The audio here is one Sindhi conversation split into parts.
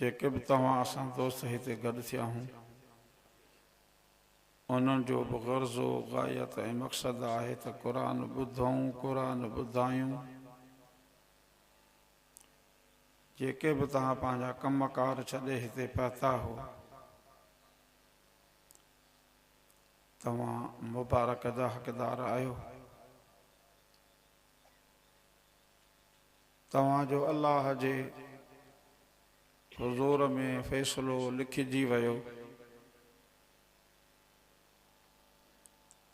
جيڪي به توهان اسان دوست هتي گڏ ٿيا هون انهن جو به غرض و غايت ۽ مقصد آهي ته قرآن ٻڌون قرآن ٻڌايون جيڪي به توهان پنهنجا ڪم ڪار ڇڏي هتي پهتا هو توهان مبارڪ جا حقدار آهيو توهان جو الله جي حضور ۾ فيصلو لکجي ويو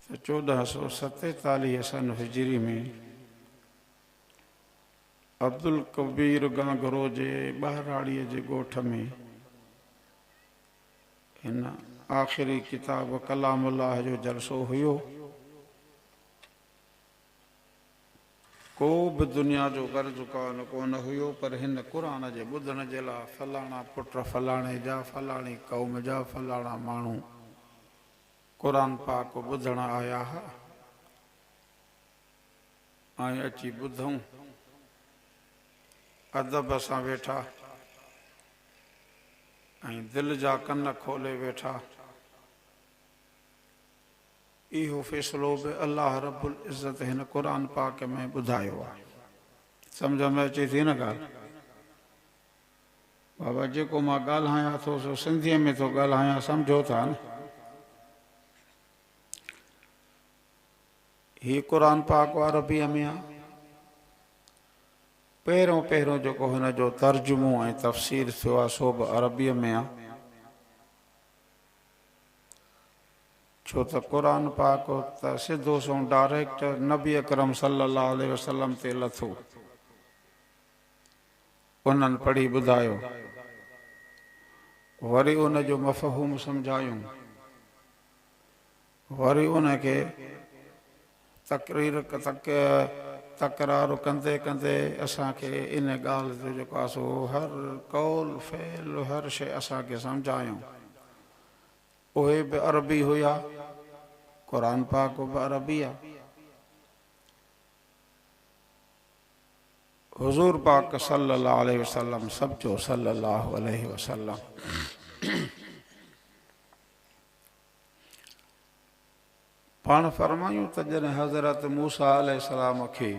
ته چوڏهن سؤ ستيتاليهه سن هجري ۾ عبدالڪبير گانگرو جي ٻهراڙيء جي ڳوٺ ۾ هن آخري ڪتاب ڪلام الله جو جلسو هيو. ڪو به دنيا جو غرض ڪان ڪونه هيو پر هن قرآن جي ٻڌڻ جي لا فلاڻا پٽ فلاڻي جا فلاڻي قوم جا فلاڻا ماڻهو قرآن پاڪ ٻڌڻ آيا ها ۽ اچي ٻڌئون ادب سان ويٺا ۽ دل جا ڪن کولي ويٺا اهو فيصلو به الله رب العزت هن قرآن پاڪ ۾ ٻڌايو آهي. سمجهه ۾ اچي ٿي نه ڳالهه؟ بابا جيڪو مان ڳالهايان ٿو سو سنڌيء ۾ ٿو ڳالهايان سمجهو ٿا نه؟ هي قرآن پاڪ عربيء ۾ آهي. پهريون پهريون جيڪو هن جو ترجمو ۽ تفسير ٿيو آهي سو به عربيء ۾ آهي. ڇو ته قرآن پاڪ ته سڌو سنئون ڊائريڪٽ نبي اڪرم صلّي اللّٰه عليه وسلّم تي لٿو. انهن پڙهي ٻڌايو. وري ان جو مفهوم سمجهايون. وري ان کي تقرير تڪ تڪرار ڪندي ڪندي اسان کي ان ڳالهه جو جيڪو آهي سو هر قول فعل هر شيء اسان کي سمجهايائون. اهي به عربي هيا. قرآن پاڪ به عربي آهي. حضور پاڪ صلي الله عليه وسلم سڀ چئو صلي الله عليه وسلم. پاڻ فرمايون ته جڏهن حضرت موسيٰ عليه السلام کي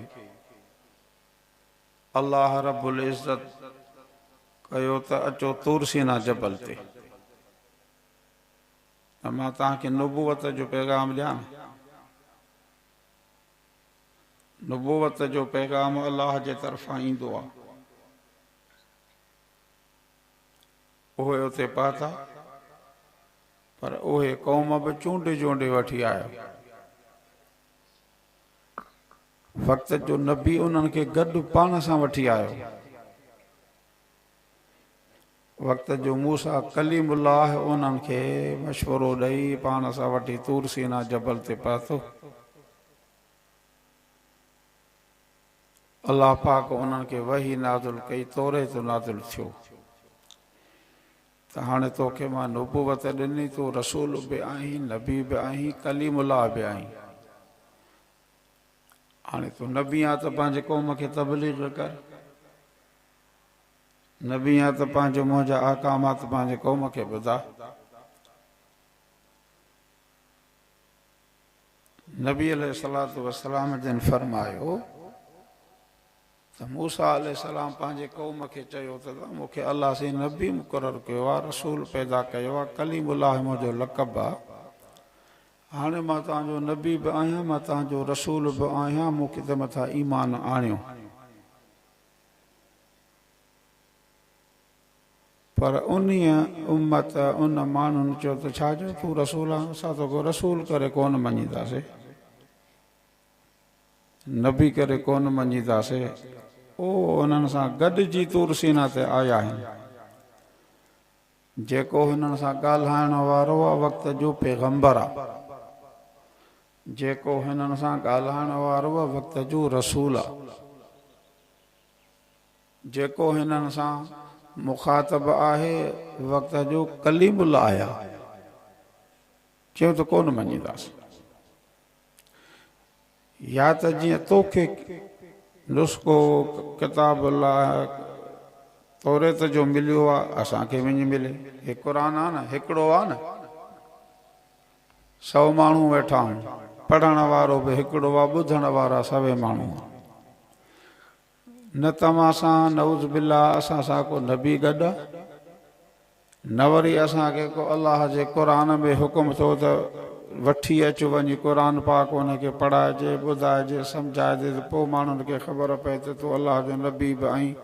الله رب العزت ڪيو ته اچو طور سينا جبل تي ته مان توهان کي نبوت جو پيغام ڏيان. نبوت جو پيغام الله جي طرفان ايندو آهي. اهي اتي پهتا، پر اهي قوم به چونڊي جونڊي وٺي آيو. فقط جو نبي انهن کي گڏ پاڻ سان وٺي آيو. وقت جو موسيٰ ڪليم الله انهن کي مشورو ڏئي پاڻ سان وٺي طور سينا جبل تي پهتو. الله پاڪ انهن کي وحي نازل ڪئي، توريت نازل ٿيو ته هاڻي توکي مان نبوت ڏني، تون رسول به آهين، نبي به آهين، ڪليم الله به آهين. هاڻي تون نبي آهين ته پنهنجي قوم کي تبليغ ڪر. نبي آهين ته پنهنجو منهنجا احڪامات پنهنجي قوم کي ٻڌاء. نبي عليه الصلوة والسلام جن فرمايو ته موسيٰ عليه السلام پنهنجي قوم کي چيو ته توهان مون کي الله سين نبي مقرر ڪيو آهي، رسول پيدا ڪيو آهي، ڪليم الله منهنجو لقب آهي، هاڻي مان توهان جو نبي به آهيان، مان توهان جو رسول به آهيان، مون کي تي مٿان ايمان آڻيو. پر انهيء امت، ان ماڻهن، چيو ته ڇا جو تون رسول آهين؟ اسان توکي رسول ڪري ڪونه مڃينداسين، نبي ڪري ڪونه مڃينداسين. اهو انهن سان گڏجي طور سينا تي آيا آهن. جيڪو هنن سان ڳالهائڻ وارو آهي وقت جو پيغمبر آهي. جيڪو هنن سان ڳالهائڻ وارو آهي وقت جو رسول آهي. جيڪو هنن سان مخاطب آهي وقت جو ڪليم الله آهيان چيو ته ڪونه مڃينداسين يا ته جيئن توکي نسخو ڪتاب الله توريت جو مليو آهي اسان کي وڃي ملي هي قرآن آهي نه هڪڙو آهي نه سو ماڻهو ويٺا آهن پڙهڻ وارو به هڪڙو آهي ٻڌڻ وارا سوين ماڻهو آهن نه توهان سان نعوذ بالله اسان سان ڪو نبي گڏ آ نه وري اسان کي ڪو الله جي قرآن ۾ حڪم ٿيو ته وٺي اچ وڃي قرآن پاڪ ان کي پڙهائجي ٻڌائجي سمجهائجي ته پوء ماڻهن کي خبر پئي ته تون الله جو نبي به آهين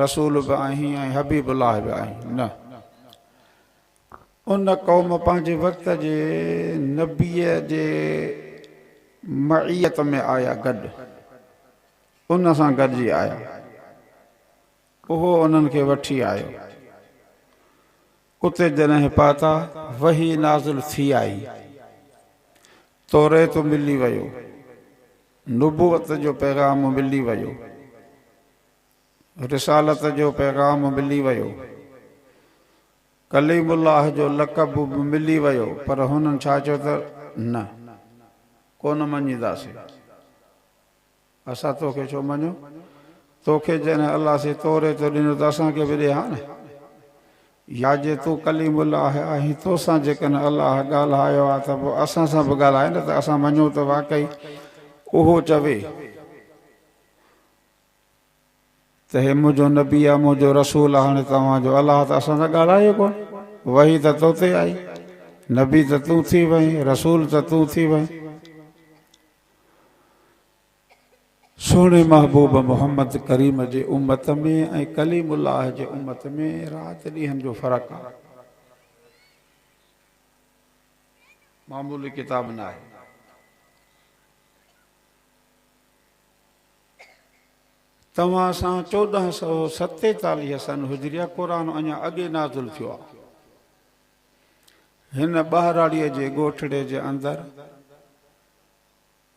رسول به آهين ۽ حبيب الله به آهين نه ان قوم پنهنجي وقت جي نبي جي معيت ۾ آيا گڏ. ان سان گڏجي آيو. اهو انهن کي وٺي آيو. اتي جڏهن پهتا، وحي نازل ٿي آئي. توريت ملي ويو. نبوت جو پيغام ملي ويو. رسالت جو پيغام ملي ويو. ڪليم الله جو لقب به ملي ويو، پر هنن ڇا چيو ته، نه، ڪونه مڃينداسين. اسان تو کي ڇو مڃون؟ تو کي جڏهن الله سي توريت ڏنو ته اسان کي به ڏي ها نه. يا جي تون ڪليم الله آهين تو سان جيڪڏهن الله ڳالهايو آهي ته پوء اسان سان به ڳالهاء نه ته اسان مڃون ته واقعي اهو چوي ته هي منهنجو نبي آهي منهنجو رسول آهي هاڻي توهان جو الله ته اسان سان ڳالهايو ئي ڪونه. وحي ته تو تي آئي، نبي ته تون ٿي وئين، رسول ته تون ٿي وئين. سهڻي محبوب محمد ڪريم جي امت ۾ ۽ ڪليم الله جي امت ۾ رات ڏينهن جو فرق آهي. معمولي ڪتاب نه آهي. توهان سان چوڏهن سؤ ستيتاليهه سن هجريه قرآن اڃا اڳي نازل ٿيو آهي. هن ٻهراڙيء جي ڳوٺڙي جي اندر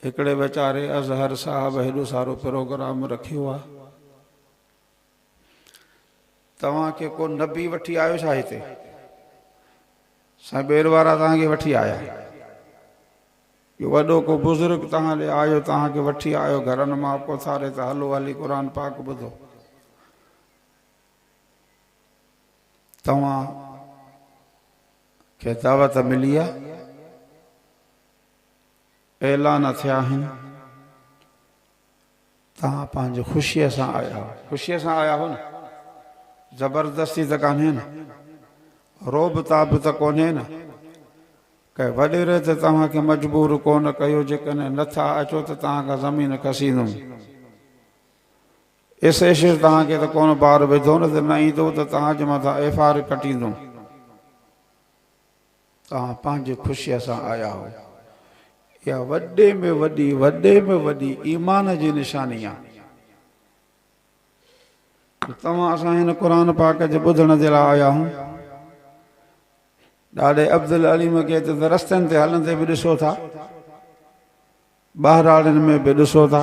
هڪڙي ويچاري اظهر صاحب هيڏو سارو پروگرام رکيو آ توهان کي ڪو نبي وٺي آيو ڇا هتي سائين ٻير وارا توهان کي وٺي آيا جو وڏو ڪو بزرگ توهان ڏي آيو توهان کي وٺي آيو گهرن مان پوٿاري ته هلو هلي قرآن پاڪ ٻڌو توهان کي دعوت ملي آ اعلان ٿيا آهن، توهان پنهنجي خوشيء سان آيا آهيو. خوشيء سان آيا آهيو نه؟ زبردستي ته ڪانهي نه؟ رعب تاب ته ڪونهي نه؟ ڪنهن وڏيري ته توهان کي مجبور ڪونه ڪيو، جيڪڏهن نه ٿا اچو ته توهان کان زمين کسيندم. ايس ايشر توهان کي ته ڪونه بار وڌو نه ته نه ايندو ته توهان جي مٿان ايف آر ڪٽيندم. توهان پنهنجي خوشيء سان آيا هئو. اها وڏي ۾ وڏي، وڏي ۾ وڏي ايمان جي نشاني آهي جو توهان اسان هن قرآن پاڪ جي ٻڌڻ جي لاء آيا هئو. ڏاڏي عبدالعليم کي ته رستن تي هلندي به ڏسو ٿا ٻهراڙين ۾ به ڏسو ٿا،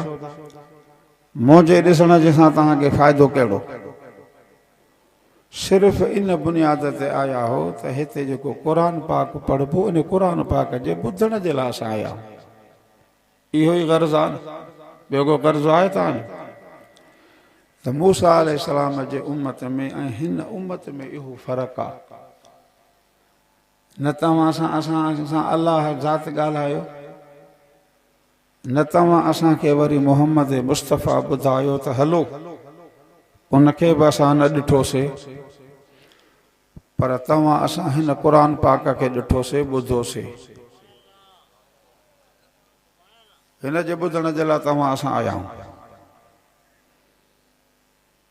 منهنجي ڏسڻ جي سان توهان کي فائدو ڪهڙو؟ صرف ان بنياد تي آيا هو ته هتي جيڪو قرآن پاڪ پڙهبو ان قرآن پاڪ جي ٻڌڻ جي لاء اسان آيا آهيون. اهو ئي غرض آهي نه؟ ٻيو ڪو غرض آهي توهان جو؟ ته موسيٰ عليه السلام جي امت ۾ ۽ هن امت ۾ اهو فرق آهي. نه توهان سان اسان سان الله ذات ڳالهايو، نه توهان اسان کي وري محمد مصطفيٰ ٻڌايو ته هلو، ان کي به اسان نه ڏٺوسي، پر توهان اسان هن قرآن پاڪ کي ڏٺوسي، ٻڌوسي. هن جي ٻڌڻ جي لاء توهان اسان آيا آهيون.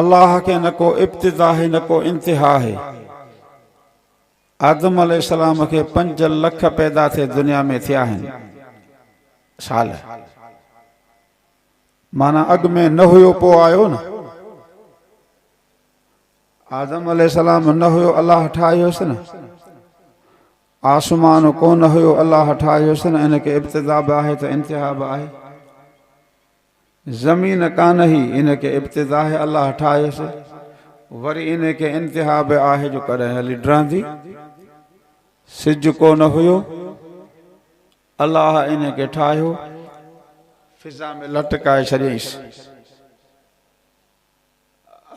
الله کي نه ڪو ابتدا آهي نه ڪو انتها آهي. آدم عليه السلام کي پنج لک پيدا ٿي دنيا ۾ ٿيا آهن سال معنيٰ اڳ ۾ نه هيو پو آيو نه آدم عليه السلام نه هيو الله ٺاهيوس نه آسمان ڪو نه هيو الله ٺاهيوس نه ان کي ابتدا به آهي ته انتها به آهي زمين ڪانه هي ان کي ابتدا آهي الله ٺاهيس وري ان کي انتها به آهي جو ڪڏهن هلي ڊرندي سج ڪونه هيو الله ان کي ٺاهيو فضا ۾ لٽڪائي ڇڏيائينس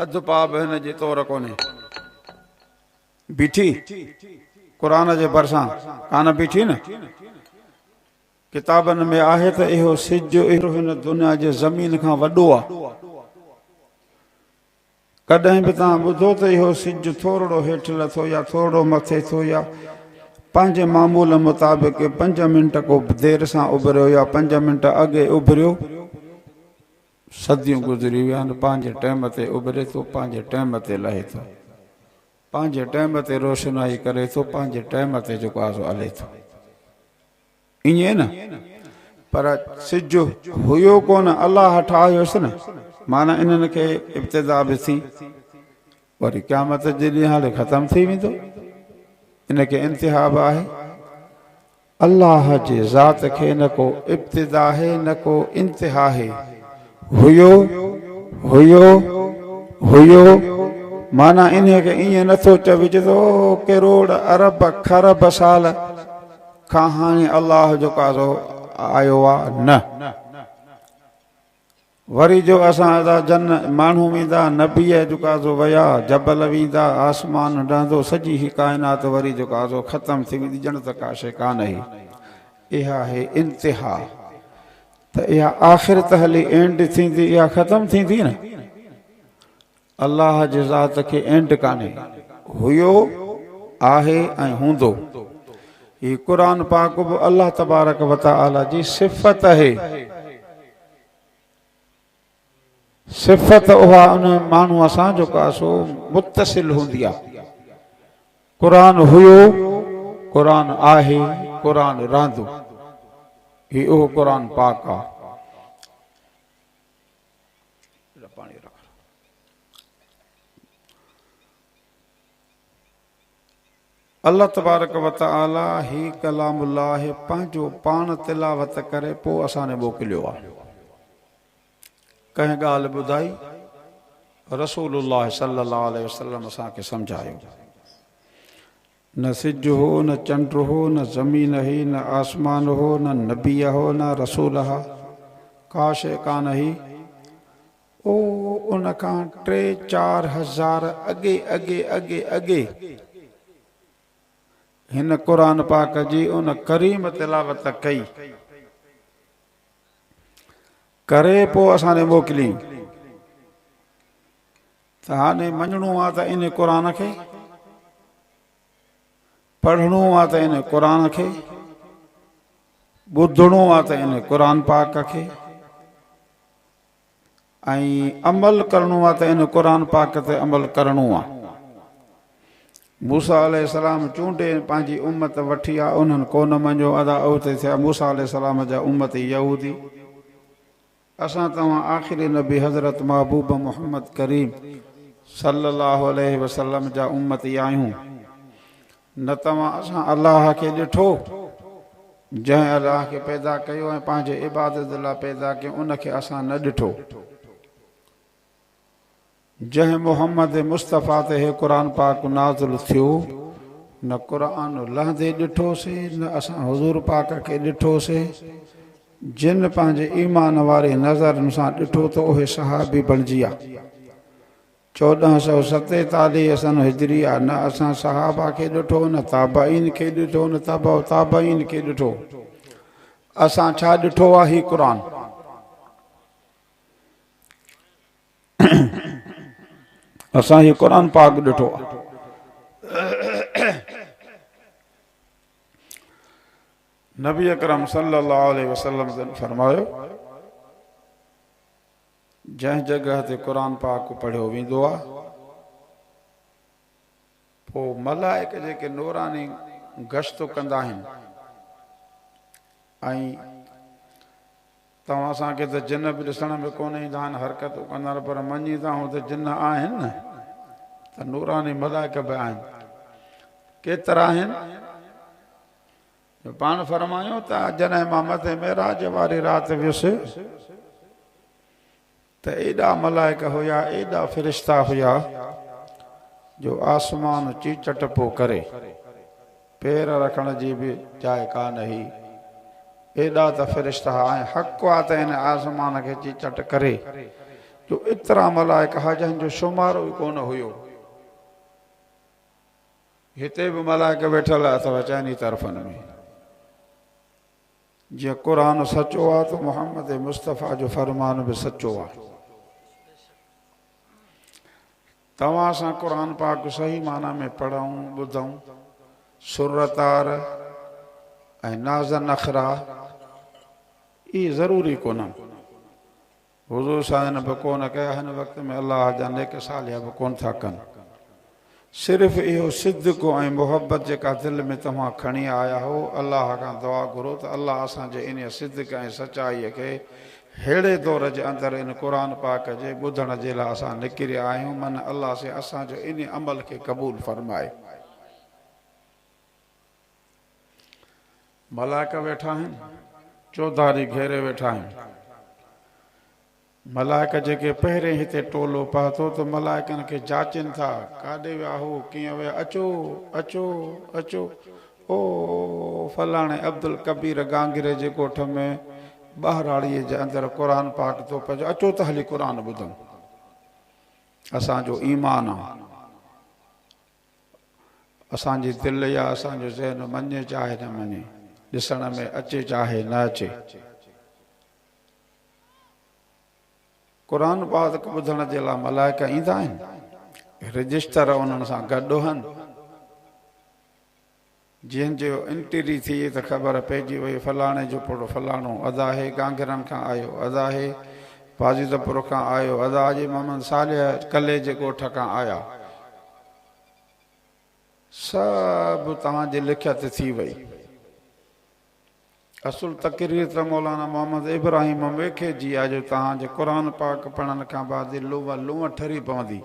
اڌ پاء به هن جي تور ڪونهي بيٺي قرآن جي ڀرسان ڪانه بيٺي نه ڪتابن ۾ آهي ته اهو سج اهڙو هن دنيا جي زمين کان وڏو آ. ڪڏهن به توهان ٻڌو ته اهو سج ٿورڙو هيٺ لٿو يا ٿورڙو مٿي ٿيو يا پنهنجي معمول مطابق پنج منٽ ڪو دير سان اڀريو يا پنج منٽ اڳي اڀريو. صديون گذري ويا آهن پنهنجي ٽيم تي اڀري ٿو پنهنجي ٽيم تي لهي ٿو پنهنجي ٽيم تي روشنائي ڪري ٿو پنهنجي ٽيم تي جڪازو الي ٿو. ائين نه؟ پر سج هيو ڪونه الله ٺاهيس نه، معنيٰ انهن کي ابتدا به ٿي وري قيامت جي ڏينهن لي ختم ٿي ويندو، ان کي انتها به آهي. الله جي ذات کي نه ڪو ابتدا آهي نه ڪو انتها آهي. هيو، هيو، هيو، معنيٰ انهيء کي ائين نه ٿو چئجي ته او ڪروڙ ارب کرب سال. کان هاڻي الله جو قاضو آيو آ نه وري جو اسان ادا جن ماڻهو ويندا نبيء جو قاضو ويا جبل ويندا آسمان ڊهندو سڄي هي ڪائنات وري جو قاضو ختم ٿي ويندي ڄڻ ته ڪا شي ڪانهي اها هي انتها ته اها آخرت هلي اينڊ ٿيندي اها ختم ٿيندي نه الله جي ذات کي اينڊ ڪانهي. هيو، آهي ۽ هوندو. هي قرآن پاڪ به الله تبارڪ وتعالي جي صفت اهي. صفت اها ان ماڻهو سان جيڪا سو متصل هوندي آ. قرآن هيو، قرآن آهي، قرآن رهندو. هي اهو قرآن پاڪ آ. الله تبارڪ وتعالي هي ڪلام الله پنهنجو پاڻ تلاوت ڪري پوء اسان ني موڪليو آهي. ڪنهن ڳالهه ٻڌائي، رسول الله صلي الله عليه وسلم اسان کي سمجهايو. نه سج هو، نه چنڊ هو، نه زمين هئي، نه آسمان هو، نه نبي هو، نه رسول ها، ڪا شيء ڪانه هئي. او، ان کان ٽي چار هزار اڳي اڳي اڳي اڳي هن قرآن پاڪ جي ان ڪريم تلاوت ڪئي. ڪري پوء اسان ڏي موڪليئي. ته هاڻي مڃڻو آ ته ان قرآن کي، پڙهڻو آ ته ان قرآن کي، ٻڌڻو آ ته ان قرآن پاڪ کي ۽ عمل ڪرڻو آ ته ان قرآن پاڪ تي عمل ڪرڻو آ. موسيٰ عليه السلام چونڊي پنهنجي امت وٺي آ، انهن ڪونه مڃيو ادا اوتي ٿيا موسيٰ عليه السلام جا امتي يهودي. اسان توهان آخري نبي حضرت محبوب محمد ڪريم صلّي الله عليه وسلّم جا امّتي آهيون، نه توهان اسان الله کي ڏٺو، جنهن الله کي پيدا ڪيو ۽ پنهنجي عبادت لاء پيدا ڪيو ان کي اسان نه ڏٺو. جنهن محمد مصطفيٰ تي هي قرآن پاڪ نازل ٿيو، نه قرآن لهندي ڏٺوسين نه اسان حضور پاڪ کي ڏٺوسين، جن پنهنجي ايمان واري نظرن سان ڏٺو ته اهي صحابي بڻجي ويا. چوڏهن سؤ ستيتاليهه سنه هجريه نه اسان صحابه کي ڏٺو نه تابعين کي ڏٺو نه تبع تابعين کي ڏٺو اسان ڇا ڏٺو آهي هي قرآن. اسان هي قرآن پاڪ ڏٺو آ نبي اڪرم صلي الله عليه وسلم جن فرمايو جنهن جڳهه تي قرآن پاڪ پڙهيو ويندو آ پوء ملائڪ جيڪي نوراني گشتون ڪندا آهن ۽ توهان اسان کي ته جن به ڏسڻ ۾ ڪونه ايندا آهن حرڪتون ڪندا آهن پر مڃي ته آهون ته جن آهن نه ته نوراني ملائڪ به آهن ڪيترا آهن جو پاڻ فرمايو ته جڏهن مان مٿي معراج واري رات ويس ته ايڏا ملائڪ هيا، ايڏا فرشتا هيا جو آسمان چيچٽ پيو ڪري، پير رکڻ جي به جاء ڪانه هئي، ايڏا ته فرشتا هئا ۽ حق آ ته هن آسمان کي چيچٽ ڪري جو ايترا ملائڪ هئا جنهن جو شمارو ئي ڪونه هيو. هتي به ملائڪ ويٺل اٿو چئني طرفن ۾. جي قرآن سچو آ ته محمد مصطفيٰ جو فرمان به سچو آ. توهان سان قرآن پاڪ صحيح معنيٰ ۾ پڙهون، ٻڌون، سورة طار ۽ نازن اخرا اهي ضروري ڪونهن. حضور سائين به ڪونه ڪيا هن وقت ۾ الله جا نيڪ صالح به ڪونه ٿا ڪن صرف اهو صدق ۽ محبت جيڪا دل ۾ توهان کڻي آيا هو الله کان دعا گهرو ته الله اسان جي انهي صدق ۽ سچائي کي ههڙي دور جي اندر ان قرآن پاڪ جي ٻڌڻ جي لاء اسان نڪريا آهيون من الله سي اسان جو انهي عمل کي قبول فرمائي. ملائڪ ويٺا آهن چوڌاري گهيري ويٺا آهن ملائڪ جيڪي پهرين هتي ٽولو پهتو ته ملائڪن کي جاچين ٿا ڪاڏي ويا هو ڪيئن ويا اچو اچو اچو او فلاڻي عبدالڪبير گانگري جي ڳوٺ ۾ ٻهراڙيء جي اندر قرآن پاڪ ٿو پئجي اچو ته هلي قرآن ٻڌون اسان جو ايمان آ اسان جي دل يا اسان جو ذهن مڃي چاهي نه مڃي، ڏسڻ ۾ اچي چاهي نه اچي. قرآن پاڪ ٻڌڻ جي لاء ملائڪ ايندا آهن، رجسٽر انهن سان گڏ هن. جنھن جو انٽري ٿي ته خبر پئجي وئي فلاڻي جو پڙ فلاڻو ادا ھي گانگھرن کان آيو ادا ھي پاجيده پور کان آيو ادا ھجي محمد صالح ڪلھي جي ڳوٺ کان آيا سڀ توھان جي لکيت ٿي وئي اصل تقرير ته مولانا محمد ابراھيم ميخي جي آ جو توھان جي قرآن پاڪ پڙھڻ کان بعد لونء لونء ٺري پوندي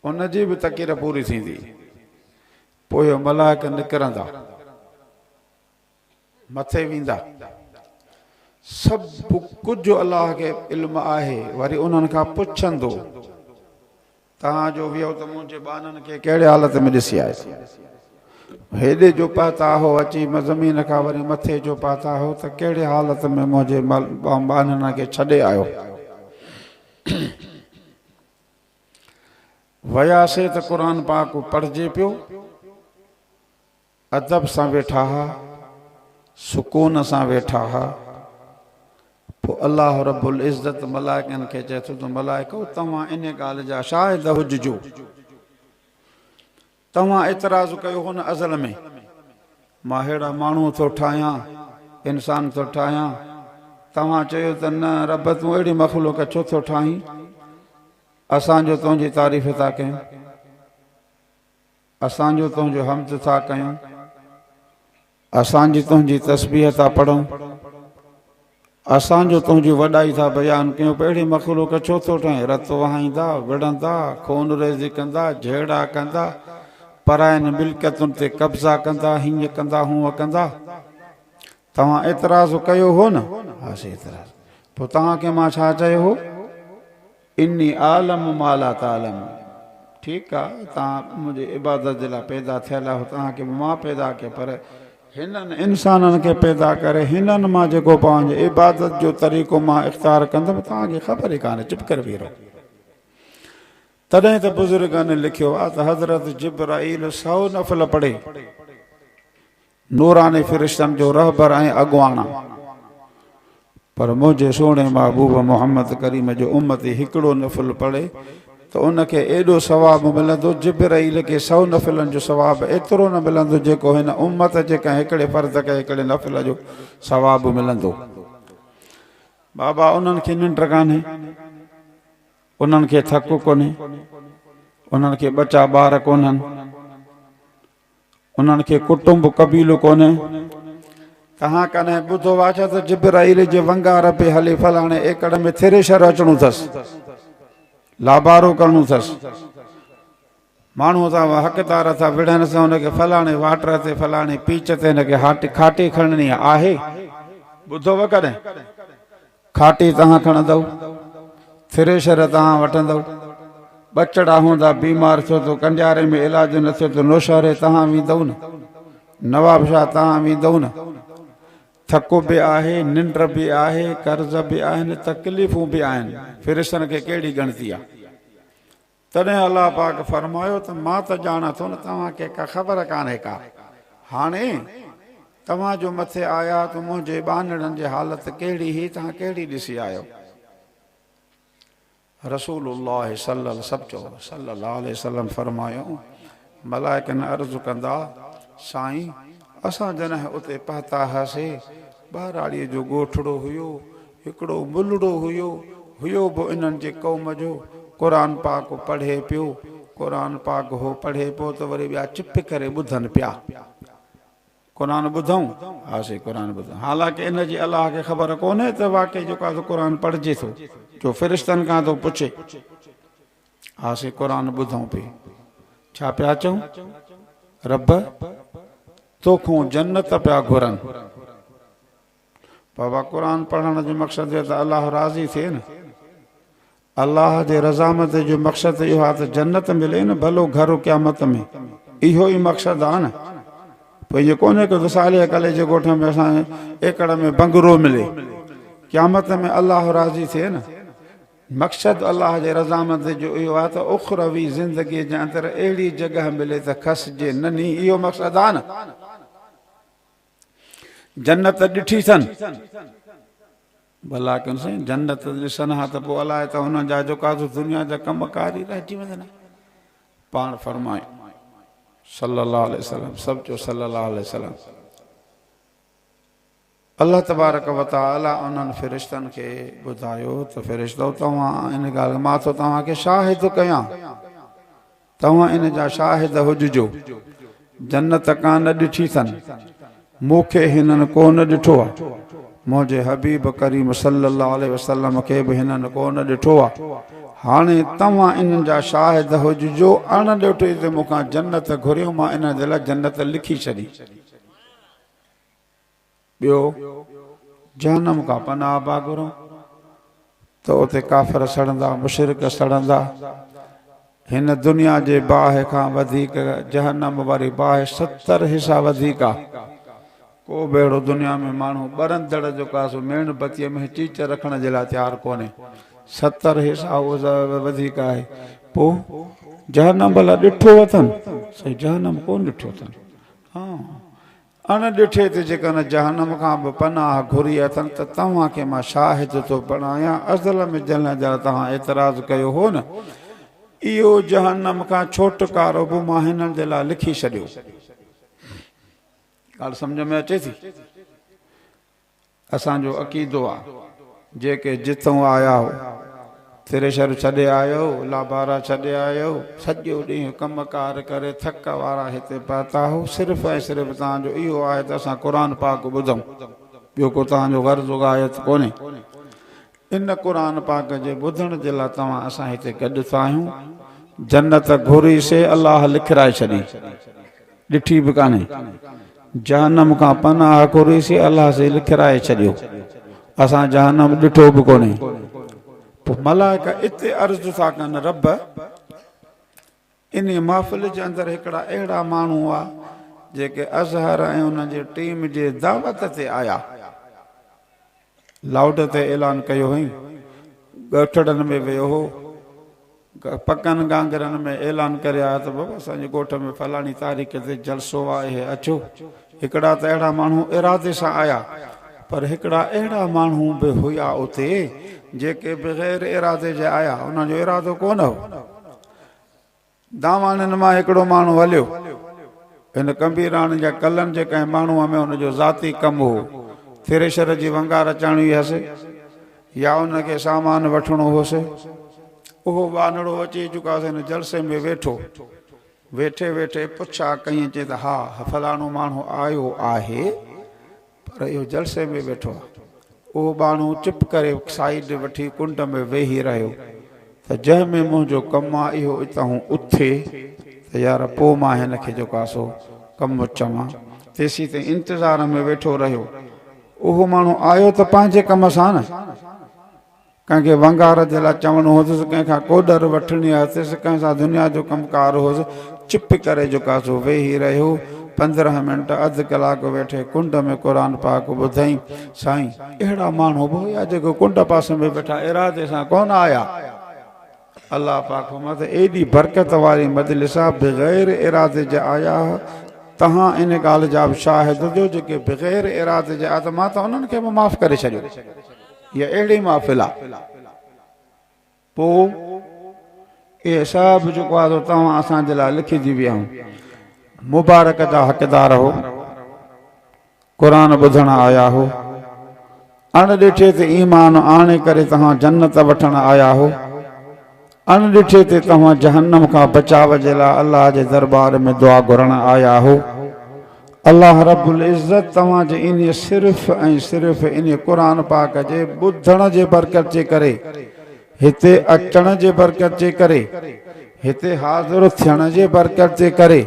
ان جي به تڪير پوري ٿيندي. پوء ملائڪ نڪرندا. مٿي ويندا. سڀ ڪجهه الله کي علم آهي. وري انهن کان پڇندو، توهان جو ويهو ته منهنجي ٻانهن کي ڪهڙي حالت ۾ ڏسي آيو؟ هيڏي جو پهتا هئو اچي زمين کان وري مٿي جو پهتا هئو ته ڪهڙي حالت ۾ منهنجي ٻانهن کي ڇڏي آيو؟ وياسي ته قرآن پاڪ پڙهجي پيو. ادب سان ويٺا ها، سڪون سان ويٺا ها. پوء الله رب العزت ملائڪن کي چئي ٿو ته ملائڪو توهان ان ڳالهه جا شاهد هججو. توهان اعتراض ڪيو هو نه ازل ۾، مان اهڙا ماڻهو ٿو ٺاهيان، انسان ٿو ٺاهيان، توهان چيو ته نه رب تون اهڙي مخلوق ڇو ٿو ٺاهين، اسان جو تنهنجي تعريف ٿا ڪيون، اسان جو تنهنجو حمد ٿا ڪيون. اسان جي تنهنجي تسبيح ٿا پڙهون، اسان جو تنهنجي وڏائي ٿا بيان ڪيون ته اهڙي مخلوق ڇو ٿو ٺاهين، رت وهائيندا، وڙهندا، خون ريزي ڪندا، جهيڙا ڪندا، پراين ملڪيتن تي قبضا ڪندا، هينئن ڪندا، هونئن ڪندا. توهان اعتراض ڪيو هو نه؟ پوء توهان کي مان ڇا چيو هو؟ اني اعلم ما لا تعلمون ٺيڪ آ توهان منهنجي عبادت جي لاء پيدا ٿيل آهيو توهان کي به مان پيدا ڪيو پر هنن انسانن کي پيدا ڪري هنن مان جيڪو پنهنجي عبادت جو طريقو مان اختيار ڪندم توهان کي خبر ئي ڪانهي چپ ڪري ويهي رهو تڏهن ته بزرگن لکيو آ ته حضرت جبرائيل سئو نفل پڙهي نوراني فرشتن جو رهبر ۽ اڳواڻ، پر منهنجي سهڻي محبوب محمد ڪريم جو امتي هڪڙو نفل پڙهي ته ان کي ايڏو ثواب ملندو، جبرئيل کي سئو نفلن جو ثواب ايترو نه ملندو جيڪو هن امت جي ڪنهن هڪڙي فرد کي هڪڙي نفل جو ثواب ملندو. بابا انهن کي ننڊ ڪانهي، انهن کي ٿڪ ڪونهي، انهن کي ٻچا ٻار ڪونهن. انهن کي ڪٽنب قبيلو ڪونهي. توهان ڪڏهن ٻڌو آهي ته جبرائيل جي ونگار پئي هلي فلاڻي ايڪڙ ۾ ٿريشر اچڻو اٿس، لابارو ڪرڻو اٿس، ماڻهو تان اها حق تار ٿا وڙهن اسان ان کي فلاڻي واٽر تي فلاڻي پيچ تي هن کي کاٽي کڻڻي آهي، ٻڌو اهي ڪڏهن؟ کاٽي تهان کڻندؤ، ٿريشر تهان وٺندؤ، ٻچڙا هوندا بيمار ٿيو ته ڪنڊياري ۾ علاج نه ٿيو ته نوشهري تهان ويندؤ نه، نوابشاهه تهان ويندؤ نه. ٿڪ به آهي، ننڊ به آهي، قرض به آهن، تڪليفون به آهن، ٿريشرن کي ڪهڙي ڳڻتي آ؟ تڏهن الله پاڪ فرمايو ته مان ته ڄاڻان ٿو نه توهان کي ڪا خبر ڪانهي ڪا. هاڻي توهان جو مٿي آيا ته منهنجي ٻانهڙن جي حالت ڪهڙي هئي توهان ڪهڙي ڏسي آيو. رسول الله صلعي صلعي وسلم فرمايو ملائڪن عرض ڪندا، سائين! اسان جڏهن اتي پهتا هئاسي، ٻهراڙيء جو ڳوٺڙو هيو، هڪڙو ملهڙو هيو، هيو به انهن جي قوم جو، قرآن پاڪ پڙهي پيو، قرآن پاڪ هو پڙهي پيو ته وري ٻيا چپ ڪري ٻڌن پيا، قرآن ٻڌئون؟ ها سائين قرآن ٻڌئون، حالانڪه ان جي الله کي خبر ڪونهي ته واقعي جيڪو آهي سو قرآن پڙهجي ٿو، جو فرشتن کان ٿو پڇي. ها سي قرآن ٻڌون پي. ڇا پيا چئون؟ رب توکون جنت پيا گهرن. بابا قرآن پڙهڻ جو مقصد هي ته الله راضي ٿئي نه. الله جي رضامندي جو مقصد ته اهو آهي ته جنت ملي نه ڀلو گهر قيامت ۾ اهو ئي مقصد آهي نه. پوء ائين ڪونهي ڪه وصالي اڪلي جي ڳوٺ ۾ اسان کي ايڪڙ ۾ بنگلو ملي. قيامت ۾ الله راضي ٿئي نه. مقصد الله جي رضامندي جو اهو آهي ته اخروي زندگيء جي اندر اهڙي جڳهه ملي ته کسجي نه ني اهو مقصد آهي نه جنت ته ڏٺي اٿن ڀلا ڪن سائين جنت ته ڏسن ها ته پوء الائي ته انهن جا جيڪا دنيا جا ڪم ڪار ئي رهجي ويندن پاڻ فرمائي صلي الله عليه وسلم سڀ چو صلي الله عليه وسلم الله تبارڪ و تعالي انهن فرشتن کي ٻڌايو ته فرشتؤ توهان ان ڳالهه مان ٿو توهان کي شاهد ڪيان توهان ان جا شاهد هججو جنت ڪا نه ڏٺي ٿن مون کي هنن ڪو نه ڏٺو آ منهنجي حبيب ڪريم صلي الله عليه وسلم کي به هنن ڪو نه ڏٺو آ هاڻي توهان انهن جا شاهد هججو اڻ ڏٺي تي مون کان جنت گهريو مان انهن جي لاء جنت لکي ڇڏي ٻيو، جهنم کان پناهه پيا گهرون ته اتي ڪافر سڙندا، مشرڪ سڙندا. هن دنيا جي باهه کان وڌيڪ جهنم واري باهه ستر حصا وڌيڪ آ. ڪو به اهڙو دنيا ۾ ماڻهو ٻرندڙ جو ڪا سو ميڻ بتيء ۾ چيچ رکڻ جي لاء تيار ڪونهي. ستر حصا اهو وڌيڪ آهي. پوء جهنم ڀلا ڏٺو اٿن؟ سائين جهنم ڪونه ڏٺو اٿن. ها! ان ڏٺي تي جيڪڏهن جهنم کان به پناهه گهري اٿن ته توهان کي مان شاهد ٿو بڻايان اصل ۾ جنھن جا توهان اعتراض ڪيو هو نه اهو جهنم کان ڇوٽڪارو به مان هنن جي لاء لکي ڇڏيو. ڳالھ سمجھ ۾ اچي ٿي؟ اسان جو عقيدو آ جيڪي جتئون آيا هو ٿريشر ڇڏي آيو لابارا ڇڏي آيو سڄو ڏينهن ڪم ڪار ڪري ٿڪ وارا هتي پهتا هو صرف ۽ صرف توهان جو اهو آهي ته اسان قرآن پاڪ ٻڌون ٻيو ڪو توهان جو غرض و غايت ڪونهي ان قرآن پاڪ جي ٻڌڻ جي لاء توهان اسان هتي گڏ ٿا آهيون جنت گهري سي الله لکرائي ڇڏي ڏٺي به ڪانهي جهنم کان پناهه گهري سي الله سي لکرائي ڇڏيو اسان جهنم ڏٺو به ڪونهي پوء ملائڪه اتي عرض ٿا ڪن رب انهيء محفل جي اندر هڪڙا اهڙا ماڻهو هئا، جيڪي اظهر ۽ ان جي ٽيم جي دعوت تي آيا. لائوڊ تي اعلان ڪيو هئائين، ڳوٺڙن ۾ ويو هو، پڪن گانگرن ۾ اعلان ڪري آيا ته بابا اسان جي ڳوٺ ۾ فلاڻي تاريخ تي جلسو آهي اچو. هڪڙا ته اهڙا ماڻهو ارادي سان آيا، پر هڪڙا اهڙا ماڻهو به هيا اتي، جيڪي بغير ارادي جي آيا، انهن جو ارادو ڪونه هو. دانواڻين مان هڪڙو ماڻهو هليو. هن ڪنڀيراڻن جا ڪلن جي ڪنهن ماڻهوء ۾ هن جو ذاتي ڪم هو. ٿريشر جي ونگار اچاڻي هيس يا هن کي سامان وٺڻو هوس. اهو ٻانهڙو اچي چڪاس هن جلسي ۾ ويٺو. ويٺي ويٺي پڇا ڪيئن چي ته ها فلاڻو ماڻهو آيو آهي. پر اهو جلسي ۾ ويٺو آ. اهو ٻانهو چپ ڪري سائيڊ وٺي ڪنڊ ۾ ويهي رهيو ته جنهن ۾ منهنجو ڪم آ اهو اتهون اٿي ته يار پوء مان هن کي جيڪو آ سو ڪم چوان. تيسين تائين انتظار ۾ ويٺو رهيو. اهو ماڻهو آيو ته پنهنجي ڪم سان نه. ڪنهن کي ونگار جي لاء چوڻو هوندس، ڪنهن کان ڪو ڏر وٺڻي هتس، ڪنهن سان دنيا جو ڪم ڪار هوس، چپ ڪري جوکاسو ويهي رهيو. پندرهن منٽ اڌ ڪلاڪ ويٺي ڪنڊ ۾ قرآن پاڪ ٻڌئين. سائين! اهڙا ماڻهو به هيا جيڪي ڪنڊ پاسي ۾ ويٺا ارادي سان ڪونه آيا. الله پاڪ فرمايو ته ايڏي برڪت واري مجلس آ بغير ارادي جي آيا ها، توهان ان ڳالهه جا به شاهد هجو جيڪي بغير ارادي جي آيا ته مان ته انهن کي به معاف ڪري ڇڏيو. اها اهڙي محفل آ پوء اهي سڀ جيڪو آ سو توهان اسان جي لاء لکجي ويا هو مبارڪ جا حقدار هو. قرآن ٻڌڻ آيا هو. اڻ ڏٺي تي ايمان آڻي ڪري توهان جنت وٺڻ آيا هو. اڻ ڏٺي تي توهان جهنم کان بچاء جي لاء الله جي دربار ۾ دعا گهرڻ آيا هو. الله رب العزت توهان جي انهي صرف ۽ صرف انهي قرآن پاڪ جي ٻڌڻ جي برڪت جي ڪري هتي اچڻ جي برڪت جي ڪري هتي حاضر ٿيڻ جي برڪت جي ڪري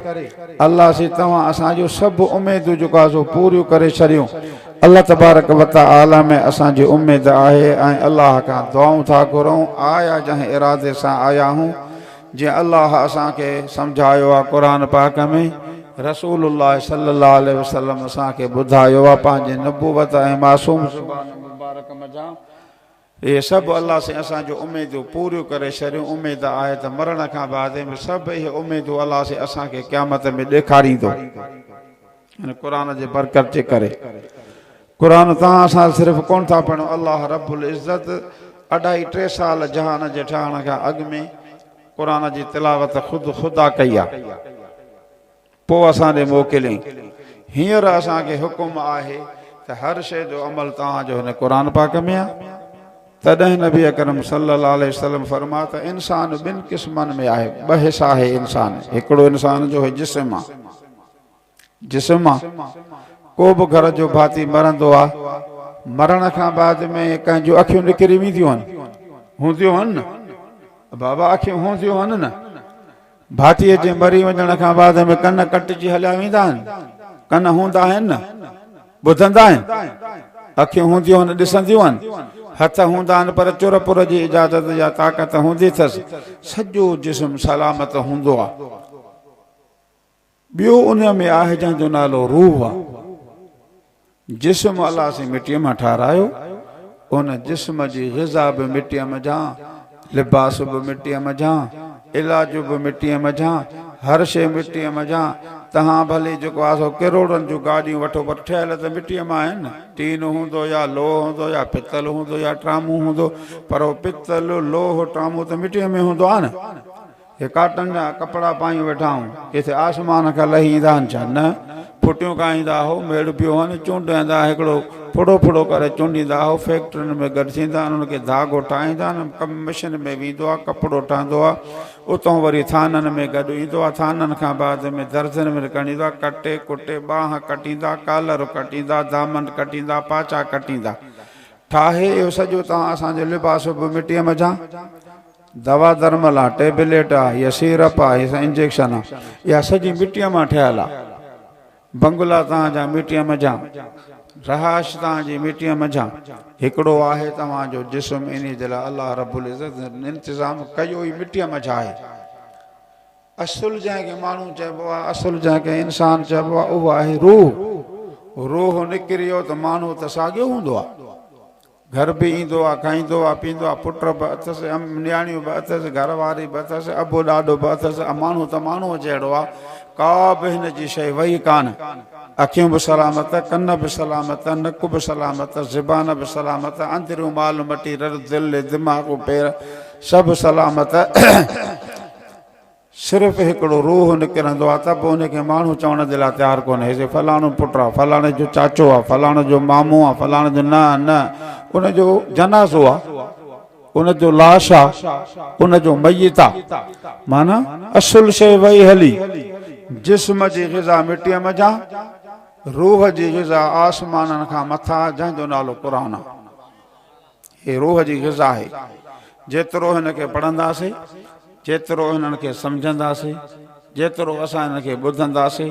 الله سي توهان اسان جون سڀ اميدون جيڪو آهي سو پوريون ڪري ڇڏيون الله تبارڪ وتعالي ۾ اسان جي اميد آهي ۽ الله کان دعائون ٿا گهرون آيا جنهن ارادي سان آيا هون جنهن الله اسان کي سمجهايو آهي قرآن پاڪ ۾ رسول الله صلي الله عليه وسلم اسان کي ٻڌايو آهي پنهنجي نبوت ۽ معصوم زبان مبارڪ منجهان اهي سڀ الله سين اسان جون اميدون پوريون ڪري ڇڏيون، اميد آهي ته مرڻ کان بعد به سڀ اهي اميدون الله سين اسان کي قيامت ۾ ڏيکاريندو هن قرآن جي برڪت جي ڪري قرآن تان اسان صرف ڪون ٿا پڙهون الله رب العزت اڍائي ٽي سال جهان جي ٺهڻ کان اڳ ۾ قرآن جي تلاوت خود خدا ڪئي آهي. پوء اسان ڏي موڪلين. هينئر اسان کي حڪم آهي ته هر شيء جو عمل توهان جو هن قرآن پاڪ ۾ آهي. تڏهن نبي اڪرم صلي الله عليه وسلم فرمايو ته انسان ٻن قسمن ۾ آهي، ٻه حصا آهي انسان، هڪڙو انسان جو هي جسم آهي، جسم آهي، ڪو به گهر جو ڀاتي مرندو آهي، مرڻ کان بعد ۾ ڪنهن جون اکيون نڪري وينديون آهن، هونديون آهن نه بابا اکيون هونديون آهن نه. ڀاتيء جي مري وڃڻ کان بعد ۾ ڪن ڪٽجي هليا ويندا آهن. ڪن هوندا آهن نه، ٻڌندا آهن. اکيون هونديون آهن، ڏسنديون آهن. هٿ هوندا آهن پر چر پر جي اجازت يا طاقت هوندي ٿس سڄو جسم سلامت هوندو آهي. ٻيو ان ۾ آهي جنهن جو نالو روح آ. جسم الله سين مٽيء مان ٺاهرايو، ان جسم جي غذا به مٽيء منجهان، لباس به مٽيء منجهان، علاج به مٽيء منجهان، هر شيء مٽيء منجهان، تهان ڀلي جيڪو آ سو ڪروڙن جون گاڏيون وٺو پر ٺهيل ته مٽيء مان آهن نه، ٽين هوندو يا لوهه هوندو يا پتل هوندو يا ٽرامون هوندو پر اهو پتل، لوهه، ٽرامون ته مٽيء ۾ هوندو آ نه. هي ڪاٽن جا ڪپڙا پايون ويٺا هون، ڪٿي آسمان کان لهي ايندا هن ڇا؟ نه، ڦٽيون ڪاهيندا هو، ميڙ پيو هن، چونڊيندا هڪڙو ڦڙو ڦڙو ڪري چونڊيندا هو، فيڪٽرين ۾ گڏ ٿيندا هن، انهن کي ڌاڳو ٺاهيندا هن، ڪم مشن ۾ ويندو آ، ڪپڙو ٺهندو آ، اتهون وري ٿانن ۾ گڏ ايندو آ، ٿانن کان بعد ۾ درزين ۾ نڪرڻ ايندو آ، ڪٽي ڪٽي ٻانهن ڪٽيندا، ڪالر ڪٽيندا، دامن ڪٽيندا، پاچا ڪٽيندا، ٺاهي اهو سڄو تان اسان جو لباس به مٽيء منجهان. دوا درمل آ، ٽيبليٽ آ يا سيرپ آ يا انجيڪشن آ، اها سڄي مٽيء مان ٺهيل آ. بنگلا توهان جا مٽيء منجهان، رهائش توهان جي مٽيء منجهان، هڪڙو آهي توهان جو جسم انهي جي لاء الله رب العزت جن انتظام ڪيو ئي مٽيء منجهان آهي. اصل جنهن کي ماڻهو چئبو آ، اصل جنهن کي انسان چئبو آ، اهو آهي روح. روح نڪري ويو ته ماڻهو ته ساڳيو هوندو آ. گهر به ايندو آ، کائيندو آ، پيئندو آ، پٽ به اٿس، نياڻيون به اٿس، گهر واري به اٿس، ابو ڏاڏو به اٿس، اماڻو ته ماڻهوء جهڙو آ، ڪا به هن جي شيء وئي ڪانه. اکيون به سلامت، ڪن به سلامت، نڪ به سلامت، زبان به سلامت، اندريون مال مٽي، رڙ، دل، دماغ، پير، سڀ سلامت. صرف هڪڙو روح نڪرندو آ ته به ان کي ماڻهو چوڻ جي لاء تيار ڪونهي سي فلاڻو پٽ آ فلاڻي جو چاچو آ فلاڻي جو مامو آ فلاڻي جو نه نه ان جو جنازو آ ان جو لاش آ ان جو ميت آ معنيٰ اصل شيء وئي هلي جسم جي غذا مٽيء منجهان روح جي غذا آسمانن کان مٿان جنهن جو نالو قرآن آ. هي روح جي غذا آهي، جيترو هن کي پڙهنداسي، جيترو هنن کي سمجهنداسي، جيترو اسان هنن کي ٻڌنداسي،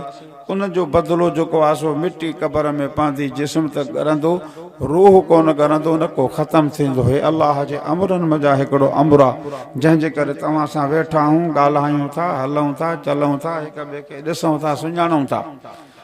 ان جو بدلو جيڪو آهي سو مٽي قبر ۾ پوندي، جسم ته ڳرندو، روح ڪونه ڳرندو، نڪو ختم ٿيندو. هي الله جي امرن منجهان هڪڙو امر آهي، جنهن جي ڪري توهان سان ويٺا آهون، ڳالهايون ٿا، هلون ٿا، چلون ٿا، هڪ ٻئي کي ڏسون ٿا، سڃاڻون ٿا.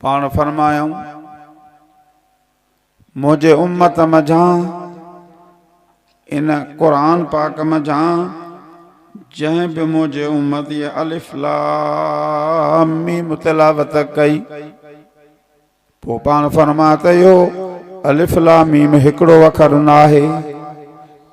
پاڻ فرمايائون، منهنجي امت منجهان، ان قرآن پاڪ منجهان، جنهن به منهنجي امت هيء الف لام ميم تلاوت ڪئي، پوء پاڻ فرمايائون ته اهو الف لام ميم هڪڙو اکر ناهي،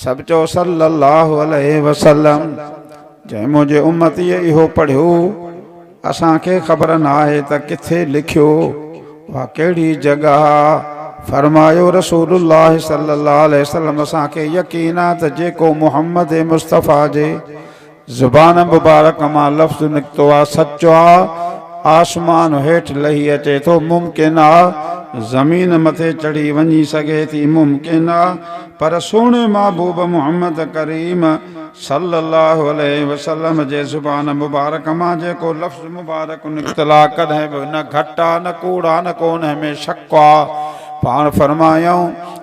سڀ چئو صلّي اللّٰه عليه وسلّم جنهن منهنجي امتيء اهو پڙهيو، اسان کي خبر ناهي ته ڪٿي لکيو اها ڪهڙي جڳهه آ، فرمايو رسول الله صلّي اللّٰه عليه وسلّم اسان کي يقين آ ته جيڪو محمّد مصطفٰي جي زبان مبارڪ مان لفظ نڪتو آ سچ آ آسمان هيٺ لهي اچي ٿو ممڪن آ زمين مٿي چڙهي وڃي سگهي ٿي ممڪن آ پر سهڻي محبوب محمد ڪريم صلي الله عليه وسلم جي زبان مبارڪ مان جيڪو لفظ مبارڪ نڪتل آ ڪڏهن به نه گهٽ آ نه ڪوڙ آ نه ڪو انهي ۾ شڪ آ پاڻ فرمايائون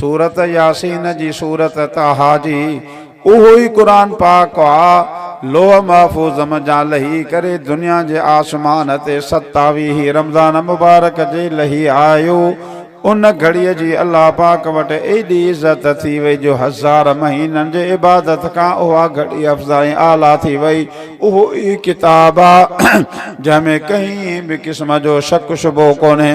سورت ياسين جي سورت طٰها جي اهو ئي قرآن پاڪ آ لوح محفوظ منجهان لهي ڪري دنيا جي آسمان تي ستاويهين رمضان مبارڪ جي لهي آيو ان گهڙي جي الله پاڪ وٽ ايڏي عزت ٿي وئي جو هزار مهينن جي عبادت کان اها گهڙي افضل ۽ اعليٰ ٿي وئي اهو ئي ڪتاب آ جنهن ۾ ڪنهن به قسم جو شڪ شبهو ڪونهي.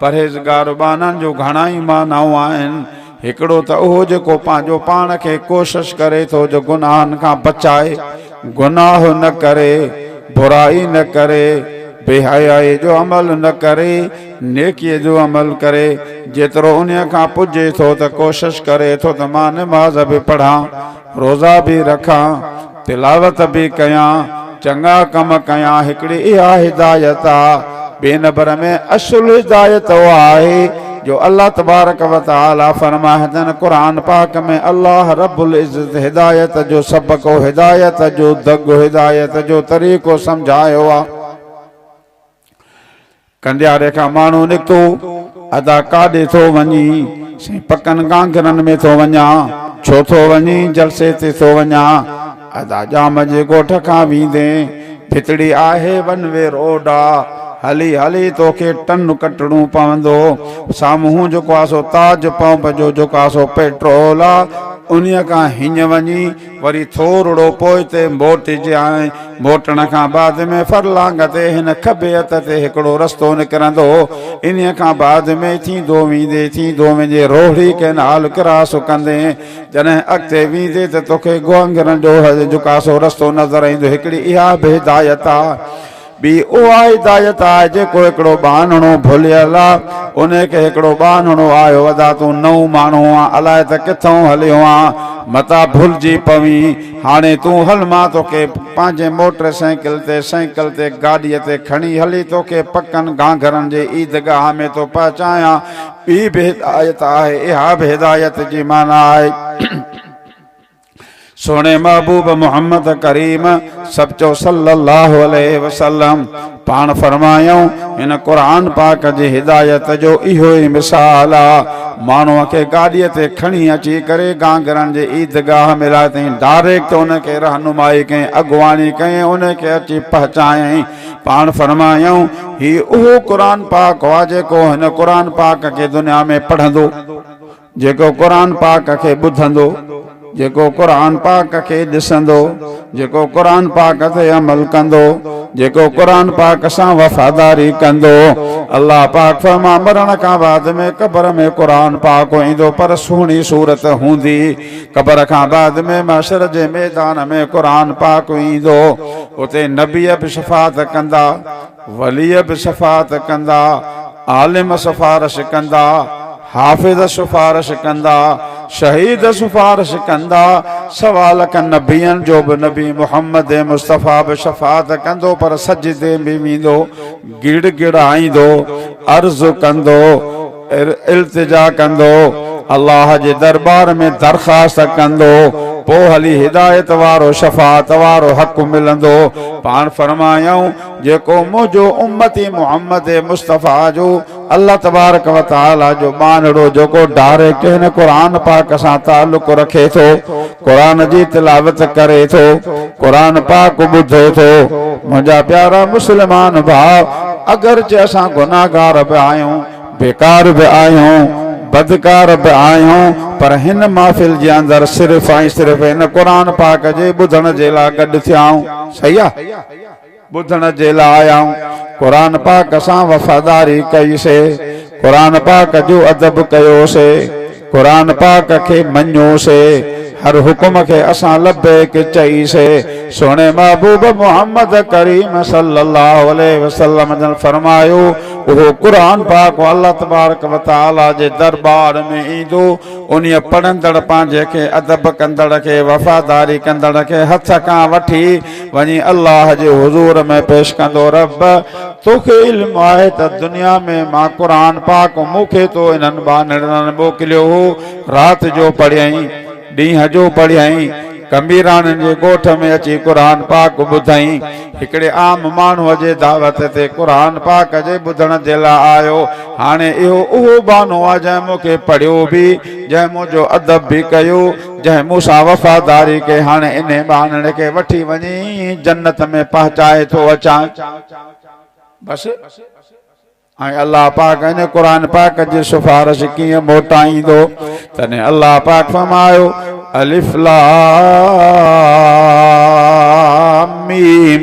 پرهيزگار معنائن جون گهڻا ئي معنائون آهن. هڪڙو ته اهو جيڪو پنهنجو پاڻ کي ڪوشش ڪري ٿو جو گناهن کان بچائي، گناهه نه ڪري، برائي نه ڪري، بي حيائي جو عمل نه ڪري، نيڪيء جو عمل ڪري، جيترو انهيء کان پڄي ٿو ته ڪوشش ڪري ٿو ته مان نماز به پڙهان، روزا به رکان، تلاوت به ڪيان، چڱا ڪم ڪيان، هڪڙي اها هدايت آ، ٻئي نبر ۾ اصل هدايت اها آهي جو الله تبارڪ و تعالي فرمائدن قرآن پاڪ ۾ الله رب العزت هدايت جو سبق و هدايت جو دڳ هدايت جو طريقو سمجهايو آ. ڪنڊياري کان ماڻهو نڪتو، ادا ڪاڏي ٿو وڃين؟ سائين پڪن گانگرن ۾ ٿو وڃان. ڇو ٿو وڃين؟ جلسي تي ٿو وڃان. ادا ڄام جي ڳوٺ کان ويندين، ڀتڙي آهي ون وي روڊ آ، هلي هلي توکي ٽن ڪٽڻو پوندو، سامهون جيڪو آ سو تاج پمپ جو جيڪو آ سو پيٽرول آ، انهيء کان هينئن وڃين، وري ٿورڙو پوئتي موٽجي ۽ موٽڻ کان بعد ۾ فرلانگ تي هن کٻي هٿ تي هڪڙو رستو نڪرندو هو، انهيء کان بعد ۾ ٿيندو ويندي ٿيندو وڃي روهڙي ڪئنال ڪراس ڪندين، جڏهن اڳتي ويندي ته توکي گوانگرن جو جڪاسو رستو نظر ايندو، هڪڙي اها به هدايت آ. ٻي اها هدايت آهي جيڪو هڪڙو ٻانهڻو ڀليل آ انهي کي هڪڙو ٻانهڻو آيو ادا تون نئون ماڻهو آن الائي ته ڪٿئون هليو آن متان ڀلجي پوين هاڻي تون هل مان توکي پنهنجي موٽر سائيڪل تي سائيڪل تي گاڏي تي کڻي هلي توکي پڪن گهانگهرن جي عيد گاهه ۾ ٿو پهچايان ٻي به هدايت آهي اها به هدايت جي معنيٰ آهي. سهڻي محبوب محمد ڪريم سڀ چئو صلّي الله عليه وسلّم پاڻ فرمايائون هن قرآن پاڪ جي هدايت جو اهو ئي مثال آ ماڻهو کي گاڏي تي کڻي اچي ڪري گانگرن جي عيدگاهه ۾ لاهي تائين ڊائريڪٽ ان کي رهنمائي ڪئين اڳواڻي ڪئين ان کي اچي پهچايائين پاڻ فرمايائون هي اهو قرآن پاڪ آ جيڪو هن قرآن پاڪ کي دنيا ۾ پڙهندو جيڪو قرآن پاڪ کي ٻڌندو، جيڪو قرآن پاڪ کي ڏسندو، جيڪو قرآن پاڪ تي عمل ڪندو، جيڪو قرآن پاڪ سان وفاداري ڪندو، الله پاڪ فرمان مرڻ کان بعد ۾ قبر ۾ قرآن پاڪ ايندو پر سهڻي صورت هوندي، قبر کان بعد ۾ محشر جي ميدان ۾ قرآن پاڪ ايندو، اتي نبي به شفاعت ڪندا. وليء به شفاعت ڪندا، عالم سفارش ڪندا، حافظ سفارش ڪندا، شهيد سفارش ڪندا، سوا لک نبين جو به نبي محمد مصطفيٰ به شفاعت ڪندو پر سجدي ۾ ويندو، گڙ گڙائيندو، عرض ڪندو. التجا ڪندو، الله جي درٻار ۾ درخواست ڪندو، پوء هلي هدايت وارو، شفاعت وارو حق ملندو. پاڻ فرمايائون، جيڪو منهنجو امتي محمد مصطفيٰ جو الله تبارڪ وتعاليٰ جو ٻانهڙو جيڪو ڊائريڪٽ هن قرآن پاڪ سان تعلق رکي ٿو، قرآن جي تلاوت ڪري ٿو قرآن پاڪ ٻڌي ٿو منهنجا پيارا مسلمان ڀاء اگرچه اسان گناهگار به آهيون بيڪار به آهيون بدڪار به آهيون پر هن محفل جي اندر صرف ۽ صرف هن قرآن پاڪ جي ٻڌڻ جي لاء گڏ ٿيا آهيون صحيح آ ٻڌڻ جي لاء آئون قرآن پاڪ سان وفاداري ڪئي سي، قرآن پاڪ جو ادب ڪيو سي، قرآن پاڪ کي مڃيو سي، هر حڪم کي اسان لبيڪ چئي سي، سهڻي محبوب محمد ڪريم صلي الله عليه وسلم جن فرمايو اهو قرآن پاڪ الله تبارڪ و تعالي جي درٻار ۾ ايندو انهي پڙهندڙ پنهنجي کي ادب ڪندڙ کي وفاداري ڪندڙ کي هٿ کان وٺي وڃي الله جي حضور ۾ پيش ڪندو رب توکي علم آهي ته دنيا ۾ مان قرآن پاڪ مون کي تو انهن ٻانهڙنن موڪليو هو رات جو پڙهيائين ڏينهن جو پڙهيائين ڪميراڻين جي ڳوٺ ۾ اچي قرآن پاڪ ٻڌائين هڪڙي عام ماڻهو جي دعوت تي قرآن پاڪ جي ٻڌڻ جي لاء آيو هاڻي اهو اهو ٻانهو آ جنهن مون کي پڙهيو به جنهن منهنجو ادب به ڪيو جنهن مون سان وفاداري ڪئي هاڻي انهي ٻانهن کي وٺي وڃي جنت ۾ پهچائي ٿو اچان بس ۽ الله پاڪ انهي قرآن پاڪ جي سفارش ڪيئن موٽائيندو تڏهن الله پاڪ فرمايو الف لام ميم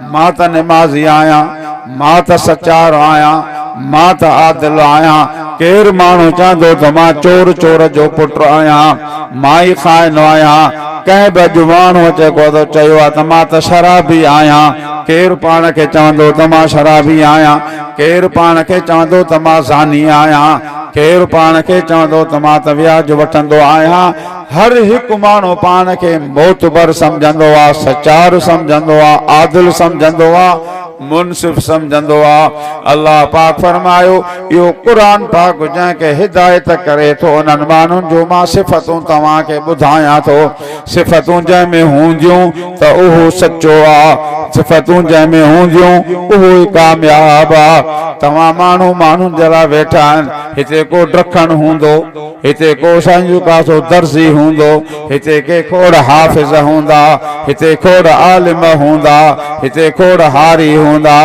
مان ته نمازي آهيان، مان ته سچار آهيان، مان ته عادل آهيان، ڪير ماڻهو چوندو ته مان چور چور جو پٽ آهيان، مان ئي خائن آهيان، ڪنهن به اڄ ماڻهو اچي ڪو ته چيو آهي ته مان ته شرابي آهيان، ڪير پاڻ کي چوندو ته مان شرابي آهيان، ڪير پاڻ کي چوندو ته مان زاني آهيان، ڪير پاڻ کي چوندو ته مان ته وياج وٺندو آهيان، هر هڪ ماڻهو پاڻ کي معتبر سمجهندو آ، سچار سمجهندو آ، عادل سمجهندو آ، منصف سمجهندو آ. الله پاڪ فرمايو، اهو قرآن پاڪ جنهن کي هدايت ڪري ٿو انهن ماڻهن جون مان صفتون توهان کي ٻڌايان ٿو. صفتون جنهن ۾ هونديون ته اهو سچو آ. صفتون جنهن ۾ هونديون اهو ئي ڪامياب آ. توهان ماڻهو ماڻهن جي لاء ويٺا آهن، هتي ڪو ڊکڻ هوندو؟ هتي ڪو سائنجو ڪاسو درزي هوندو، هتي ڪي کوڙ حافظ هوندا، هتي کوڙ عالم هوندا، هتي کوڙ هاري هوندا.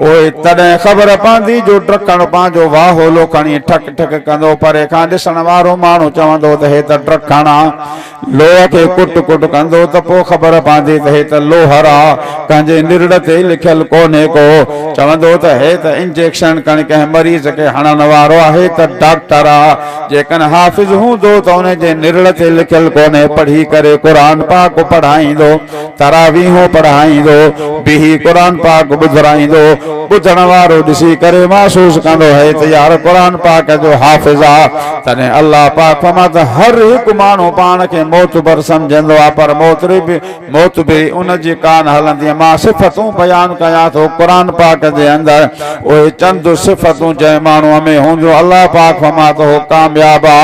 اهي تڏهن خبر پوندي جو ڊرڪڻ پنهنجو واهولو کڻي ٺڪ ٺڪ ڪندو. پري کان ڏسڻ وارو ماڻهو چوندو ته هي ته ڊرڪڻ آ. لوهه کي ڪٽ ڪٽ ڪندو ته پوء خبر پوندي ته هي ته لوهر آ، ڪنهن جي نرڙ تي لکيل ڪونهي ڪو. چوندو ته هي ته انجيڪشن ڪڻ ڪنهن مريض کي هڻڻ وارو آهي ته ڊاڪٽر آ، جيڪن حافظ هوندو ته ان جي نرڙ تي لکيل ڪونهي پڙهي ڪري قرآن پاڪ پڙهائيندو. تراويحون پڙهائيندو، بيهي قرآن پاڪ ٻڌرائيندو، ٻڌڻ وارو ڏسي ڪري محسوس ڪندو هئي ته يار قرآن پاڪ جو حافظ آ، تڏهن الله پاڪ فرمائي ته هر هڪ ماڻهو پاڻ کي معتبر سمجهندو آ پر معتبري ان جي ڪانه هلندي، مان صفتون بيان ڪيان ٿو قرآن پاڪ جي اندر اهي چند صفتون جنهن ماڻهوء ۾ هونديون الله پاڪ فرمائي ته هو ڪامياب آ.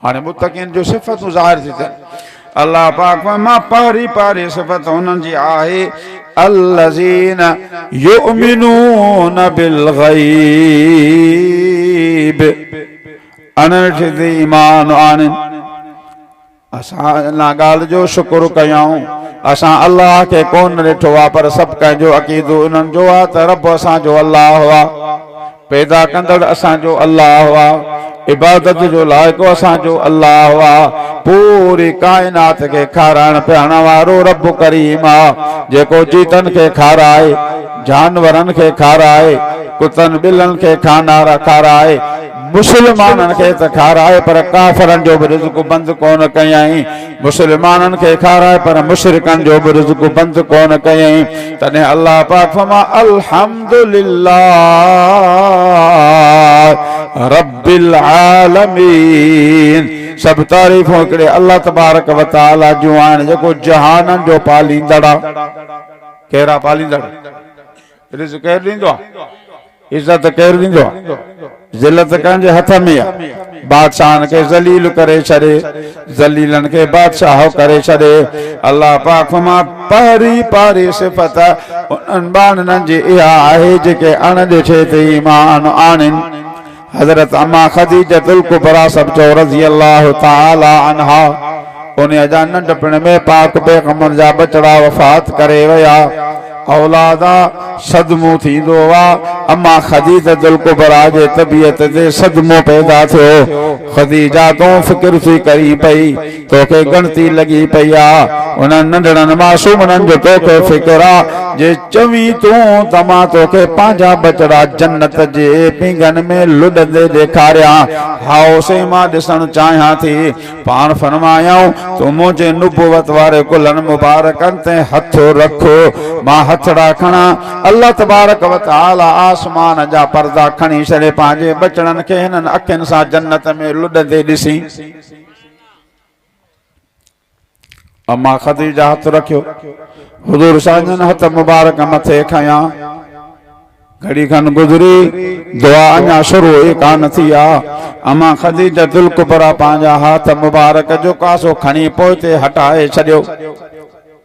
هاڻي متقين جون صفتون ظاهر ٿيون ٿين. الله پاڪ فرمائي پهرين پهرين صفت انهن جي آهي الذين يؤمنون بالغيب اڻڏٺي تي ايمان آڻين. اسان ان ڳالهه جو شڪر ڪيائون اسان الله کي ڪونه ڏٺو آهي پر سڀ ڪنهن جو عقيدو انهن جو آهي ته رب اسان جو الله آهي. پيدا ڪندڙ اسان جو الله آ، عبادت جو لائق اسان جو الله آ، پوري ڪائنات کي کارائڻ پيئارڻ وارو رب ڪريم آ، جيڪو جيتن کي کارائي، جانورن کي کارائي، ڪتن ٻلن کي کانارا کارائي، مسلمانن کي ته کارائي پر ڪافرن جو به رزق بند ڪونه ڪيائين، مسلمانن کي کارائي پر مشرڪن جو به رزق بند ڪونه ڪيائين تڏهن الله پاڪ فرماء الحمد لله رب العالمين سڀ تعريفون هڪڙي الله تبارڪ وتعالي جون آهن جيڪو جهانن جو پاليندڙ آهي ڪهڙا پاليندڙ رزق ڪير ڏيندو آ، عزت ڪير ڏيندو آ، ذلت ڪنهن جي هٿ ۾ آ، بادشاهن کي ذليل ڪري ڇڏي، ذليلن کي بادشاهه ڪري ڇڏي، الله پاڪ مان پهرين پاري صفت انهن ٻانهن جي اها آهي جيڪي اڻ ڏٺي تي ايمان آڻين. حضرت اما خديجة الڪبريٰ سڀ چئو رضي الله تعالٰي عنها انهيء جا ننڍپڻ ۾ پاڪ پيغمبر جا ٻچڙا وفات ڪري ويا. اولاد صدمو ٿيندو آ. اما خديجة الڪبريٰ جي طبيعت تي صدمو پيدا ٿيو. خديجة تون فڪر ٿي ڪرين پئي. توکي ڳڻتي لڳي پئي آ انهن ننڍڙن معصومڙن جو توکي فڪر آ جي چوين تون ته مان توکي پنهنجا ٻچڙا جنت جي پينگهن ۾ لڏندي ڏيکاريان هائو سائين مان ڏسڻ چاهيان ٿي پاڻ فرمايائون تون منهنجي نبوت واري ڪلهن مبارڪن تي هٿ رک مان هٿڙا کڻان الله تبارڪ وتعالي آسمان جا پردا کڻي ڇڏي پنهنجي ٻچڙن کي هنن اکين سان جنت ۾ لڏندي ڏسين. اما خديجه هٿ رکيو. حضور سانجهن هٿ مبارڪ مٿي کنيا. گهڙي کن گذري، دعا اڃا شروع ئي ڪانه ٿي آ. اما خديجه الڪبريٰ پنهنجا هاٿ مبارڪ جو ڪاسو کڻي پوئتي هٽائي ڇڏيو.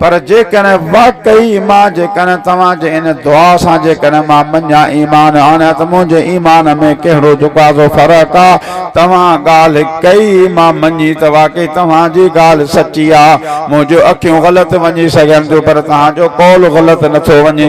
پر جيڪڏهن واقعي ايمان جيڪڏهن توهان جي ان دعا سان جيڪڏهن مان مڃيا ايمان آڻيا ته منهنجي ايمان ۾ ڪهڙو جڪازو فرق آ توهان ڳالهه ڪئي مان مڃي ته واقعي توهان جي ڳالهه سچي آ منهنجيون اکيون غلط وڃي سگهن ٿيون پر توهان جو قول غلط نٿو وڃي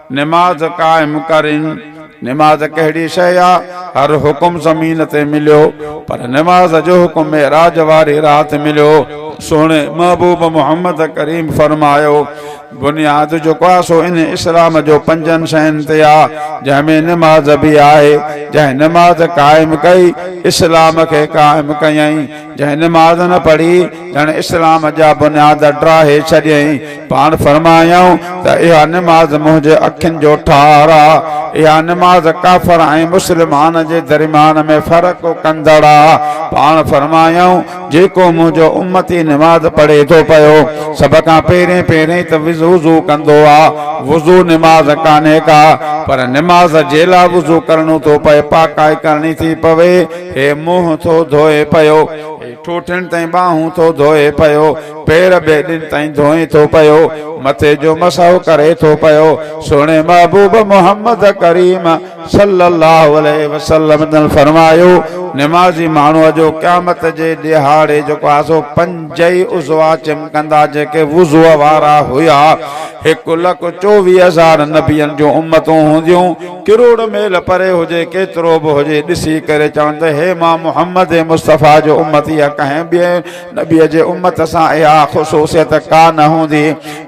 نماز قائم ڪرين. نماز ڪهڙي شيء آ؟ هر حڪم زمين تي مليو پر نماز جو حڪم معراج واري رات مليو. سهڻي محبوب محمد ڪريم فرمايو، بنياد جيڪو آ سو ان اسلام جو پنجن شين تي آ جنهن ۾ نماز به آهي، جنهن نماز قائم ڪئي اسلام کي قائم ڪيائين. جنهن نماز نه پڙهي ڄڻ اسلام جا بنياد ڊاهي ڇڏيائين. پاڻ فرمايائون ته اها نماز منهنجي اکين جو ٺار آ. اها نماز ڪافر ۽ مسلمان جي درميان ۾ فرق ڪندڙ آ. پاڻ فرمايائون جيڪو منهنجو امتي نماز پڙهي ٿو پيو سڀ کان پهرين پهرين ته وضو ڪندو آ. وضو نماز ڪانهي ڪا پر نماز جي لا وضو ڪرڻو ٿو پئي پاڪائي ڪرڻي ٿي پوي. هي منهن ٿو ڌوئي پيو، هي ٺوٺين تائين ٻانهون ٿو ڌوئي پيو، پير ٻيڏين تائين ڌوئي ٿو پيو، مٿي جو مسحو ڪري ٿو پيو، سهڻي محبوب محمد ڪريم صلّي الله عليه وسلّم جن فرمايو، نمازي ماڻهو جو قيامت جي ڏهاڙي جيڪو آسو پنج ئي عضوا چمڪندا جيڪي وضوء وارا هيا، هڪ لک چوويهه هزار نبين جون امتون هونديون، ڪروڙ ميل پري هجي ڪيترو به هجي ڏسي ڪري چون ته هي مان محمد مصطفيٰ جو امتي يا ڪنهن ٻئي نبي جي امت سان اها خصوصيت ڪا نه هوندي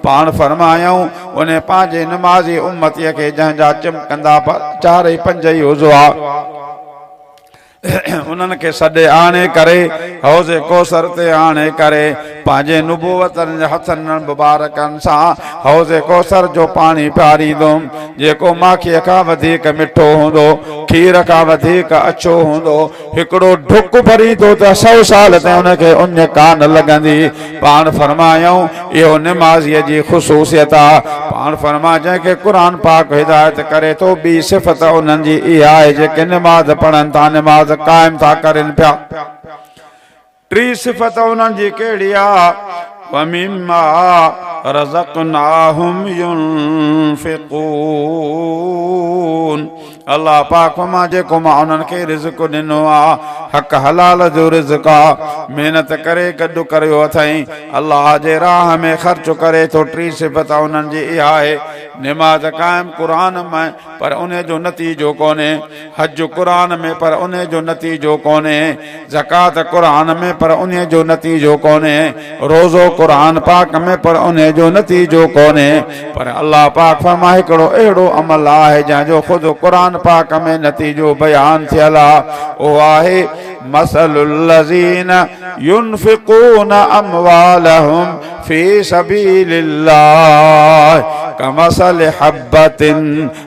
پاڻ فرمايائون انهي پنهنجي نمازي امتي کي جنهن جا چمڪندا چار ۽ پنج ئي عضوا انهن کي سڏي آڻي ڪري حوض ڪوثر تي آڻي ڪري پنهنجي نبوتن جي هٿن مبارڪن سان حوض ڪوثر جو پاڻي پياريندم جيڪو ماکيء کان وڌيڪ مٺو هوندو کير کان وڌيڪ اڇو هوندو هڪڙو ڍڪ ڀريندو ته سؤ سال تائين ان کي اڃ ڪانه لڳندي پاڻ فرمايائون، اهو نمازيء جي خصوصيت آ، پاڻ فرماء جنهن کي قرآن پاڪ هدايت ڪري ٿو، ٻي صفت انهن جي اها آهي جيڪي نماز پڙهن ٿا، نماز قائم ٿا ڪرين پيا. ٽي صفت انهن جي ڪهڙي آ، ومما رزقناهم ينفقون. الله پاڪ مان جيڪو مان انهن کي رزق ڏنو آ حق حلال جو رزق آ محنت ڪري گڏ ڪريو اٿئين الله جي راهه ۾ خرچ ڪري ٿو ٽي صفت انهن جي اها آهي نماز قائم قرآن ۾ پر انهي جو نتيجو ڪونهي حج قرآن ۾ پر انهي جو نتيجو ڪونهي زڪوات قرآن ۾ پر انهي جو نتيجو ڪونهي، روزو قرآن پاڪ ۾ پر انهي جو نتيجو ڪونهي، پر الله پاڪ فرمائي هڪڙو اهڙو عمل آهي جنهن جو خود قرآن پاڪ ۾ نتيجو بيان ٿيل آ اهو آهي مثل الذين ينفقون اموالهم في سبيل الله ڪمثل حبة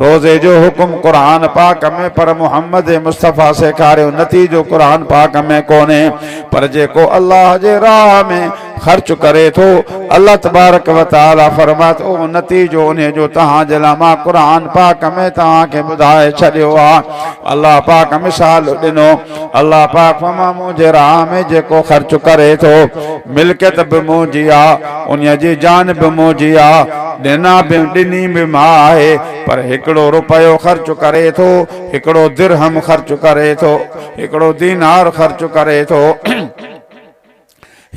روزي جو حڪم قرآن پاڪ ۾ پر محمد مصطفيٰ سيکاريو نتيجو قرآن پاڪ ۾ ڪونهي پر جيڪو الله جي راهه ۾ خرچ ڪري ٿو الله تبارڪ و تعالي فرمائي ٿو نتيجو انهي جو توهان جي لاء مان قرآن پاڪ ۾ توهان کي ٻڌائي ڇڏيو آهي الله پاڪ مثال ڏنو الله پاڪ فما مون جي راهه ۾ جيڪو خرچ ڪري ٿو، ملڪيت به مون جي آ، انهيء جي جان به مون جي آ، ڏنا به ڏني به مان آهي، پر هڪڙو رپيو خرچ ڪري ٿو، هڪڙو درهم خرچ ڪري ٿو، هڪڙو دينار خرچ ڪري ٿو.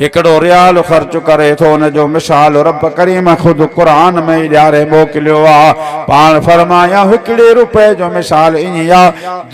هڪڙو ريال خرچ ڪري ٿو ان جو مثال رب ڪريم خود قرآن ۾ ئي ڏياري موڪليو آ پاڻ فرمايائون هڪڙي روپئي جو مثال ائين آ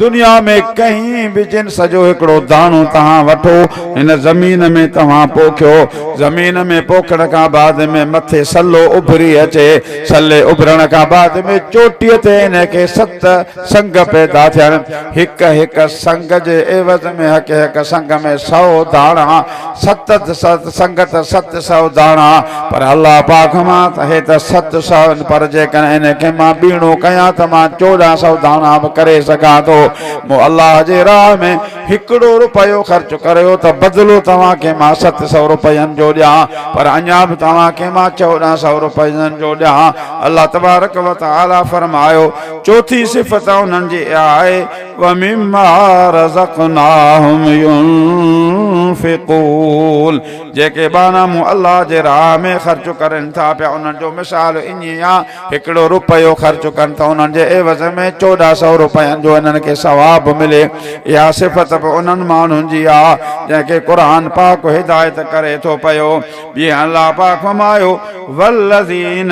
دنيا ۾ ڪنهن به جنس جو هڪڙو داڻو توهان وٺو هن زمين ۾ توهان پوکيو زمين ۾ پوکڻ کان بعد ۾ مٿي سلو اڀري اچي سلي اڀرڻ کان بعد ۾ چوٽي تي ان کي ست سنگ پيدا ٿيڻ، هڪ هڪ سنگ جي عيوض ۾ هڪ هڪ سنگ ۾ سئو داڻا، ست ست سنگ ته ست سئو داڻا، پر الله پاڪ مان ته هي ته ست سئو آهن، پر جيڪڏهن ان کي مان ٻيڻو ڪيان ته مان چوڏهن سئو داڻا به ڪري سگهان ٿو، مون الله جي راهه ۾ هڪڙو رپيو خرچ ڪريو ته بدلو توهان کي مان ست سئو رپين جو ڏيان، پر اڃا به توهان کي مان چوڏهن سئو رپين جو ڏيان، الله تبارڪ وتعاليٰ فرمايو. چوٿين صفت انهن جي اها آهي، ومما رزقناهم ينفقون جيڪي ٻانها مون الله جي راهه ۾ خرچ ڪرين ٿا پيا انهن جو مثال ائين آهي هڪڙو روپيو خرچ ڪن ته انهن جي عيوض ۾ چوڏهن سئو روپين جو انهن کي ثواب ملي اها صفت به انهن ماڻهن جي آهي جنهن کي قرآن پاڪ هدايت ڪري ٿو پيو ٻيهر الله پاڪ فرمايو والذين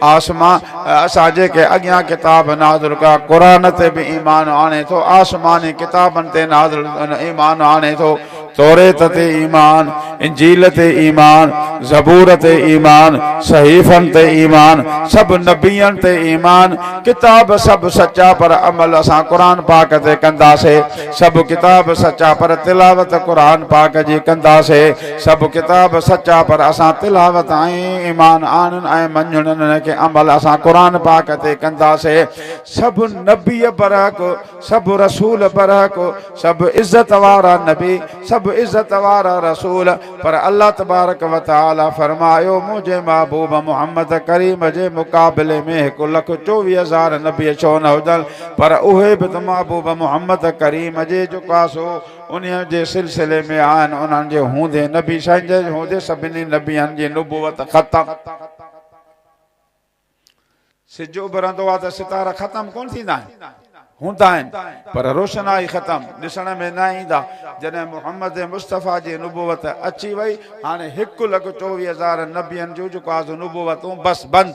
آسمان، اسان جيڪي اڳيان ڪتاب نازل ڪيا، قرآن تي به ايمان آڻي ٿو، آسماني ڪتابن تي نازل ايمان آڻي ٿو، توريت تي ايمان، انجيل تي ايمان، زبور تي ايمان، صحيفن تي ايمان، سڀ نبين تي ايمان، ڪتاب سڀ سچا پر عمل اسان قرآن پاڪ تي ڪنداسين، سڀ ڪتاب سچا پر تلاوت قرآن پاڪ جي ڪنداسين، سڀ ڪتاب سچا پر اسان تلاوت ۽ ايمان آڻڻ ۽ مڃڻ ان کي عمل اسان قرآن پاڪ تي ڪنداسي سڀ نبي برحق سڀ رسول برحق سڀ عزت وارا نبي سڀ عزت وارا رسول پر الله تبارڪ وتعالي فرمايو منهنجي محبوب محمد ڪريم جي مقابلي ۾ هڪ لک چوويهه هزار نبي ڇو نه هجن پر اهي به ته محبوب محمد ڪريم جي جڪاسو انهيء جي سلسلي ۾ آهن انهن جي هوندي نبي سائين جي هوندي سڀني نبين جي نبوت ختم سج اڀرندو آهي ته ستارا ختم ڪونه ٿيندا آهن هوندا آهن پر روشنائي ختم ڏسڻ ۾ نه ايندا جڏهن محمد مصطفيٰ جي نبوت اچي وئي هاڻي هڪ لک چوويهه هزار نبين جون جيڪو آهي سو نبوتون بس بند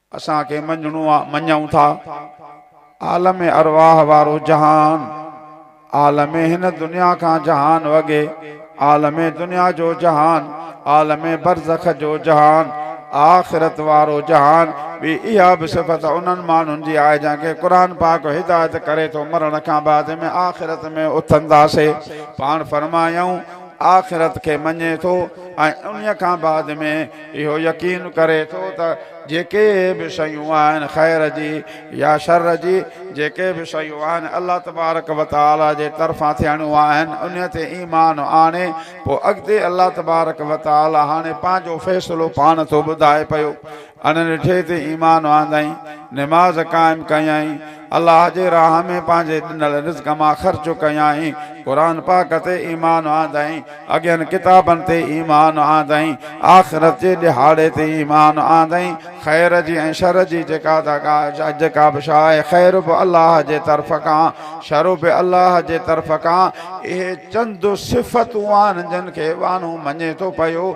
اسان کي مڃڻو آ، مڃون ٿا. عالم ارواح وارو جهان، عالم هن دنيا کان جهان وڳي، عالم دنيا جو جهان، عالم برزخ جو جهان، آخرت وارو جهان، ٻي اها به صفت انهن ماڻهن جي آهي جن کي قرآن پاڪ هدايت ڪري ٿو مرڻ کان بعد ۾ آخرت ۾ اٿنداسي. پاڻ فرمايائون، آخرت کي مڃي ٿو ۽ انهيء کان بعد ۾. اهو يقين ڪري ٿو ته جيڪي به شيون آهن خير جي يا شر جي جيڪي به شيون آهن الله تبارڪ وتعالي جي طرفان ٿيڻيون آهن انهي تي ايمان آڻي پوء اڳتي الله تبارڪ وتعالي هاڻي پنهنجو فيصلو پاڻ ٿو ٻڌائي پيو انهن ٽي تي ايمان آندائين نماز قائم ڪيائين الله جي راهه ۾ پنهنجي ڏنل رزق مان خرچ ڪيائين، قرآن پاڪ تي ايمان آندائين، اڳين ڪتابن تي ايمان آندائين، آخرت جي ڏهاڙي تي ايمان آندائين، خير جي ۽ شر جي جيڪا ته جيڪا به شيء آهي خير به الله جي طرف کان شر به الله جي طرف کان، اهي چند صفتون آهن جن کي ٻانهو مڃي ٿو پيو،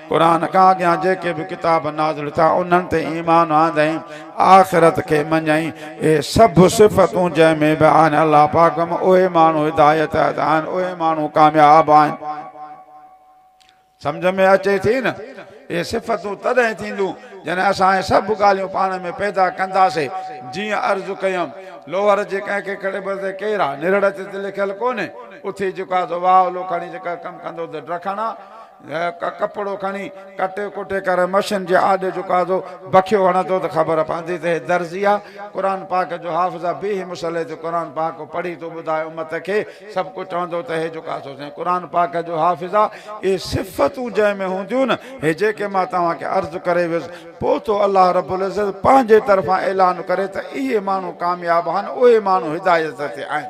قرآن کان اڳيان جيڪي به ڪتاب نازل ٿيا انهن تي ايمان آندائين، آخرت کي مڃيائين، اهي سڀ صفتون جنهن ۾ به آهن الله پاڪ م اهي ماڻهو هدايت تحت آهن اهي ماڻهو ڪامياب آهن. سمجهه ۾ اچي ٿي نه؟ اهي صفتون تڏهن ٿينديون جڏهن اسان اهي سڀ ڳالهيون پاڻ ۾ پيدا ڪنداسين جيئن عرض ڪيم لوهر جي ڪنهن کي ڪهڙي به تي ڪير آهي نرڙ تي ته لکيل ڪونهي اٿي جيڪو آهي سو واهه اولو کڻي جيڪا ڪم ڪندو ته ڊکڻ آ ڪپڙو کڻي ڪٽي ڪٽي ڪري مشين جي آڏي جهڪا ٿو، بکيو هڻندو ته خبر پوندي ته هي درزي آ، قرآن پاڪ جو حافظ آ، بيهي مصلي تي قرآن پاڪ ڪو پڙهي ٿو ٻڌائي امت کي، سڀ ڪو چوندو ته هي جهڪا ٿو سائين قرآن پاڪ جو حافظ آ، اهي صفتون جنهن ۾ هونديون نه، هي جيڪي مان توهان کي عرض ڪري ويس، پوء ٿو الله رب العزت پنهنجي طرفان اعلان ڪري ته اهي ماڻهو ڪامياب آهن، اهي ماڻهو هدايت تي آهن.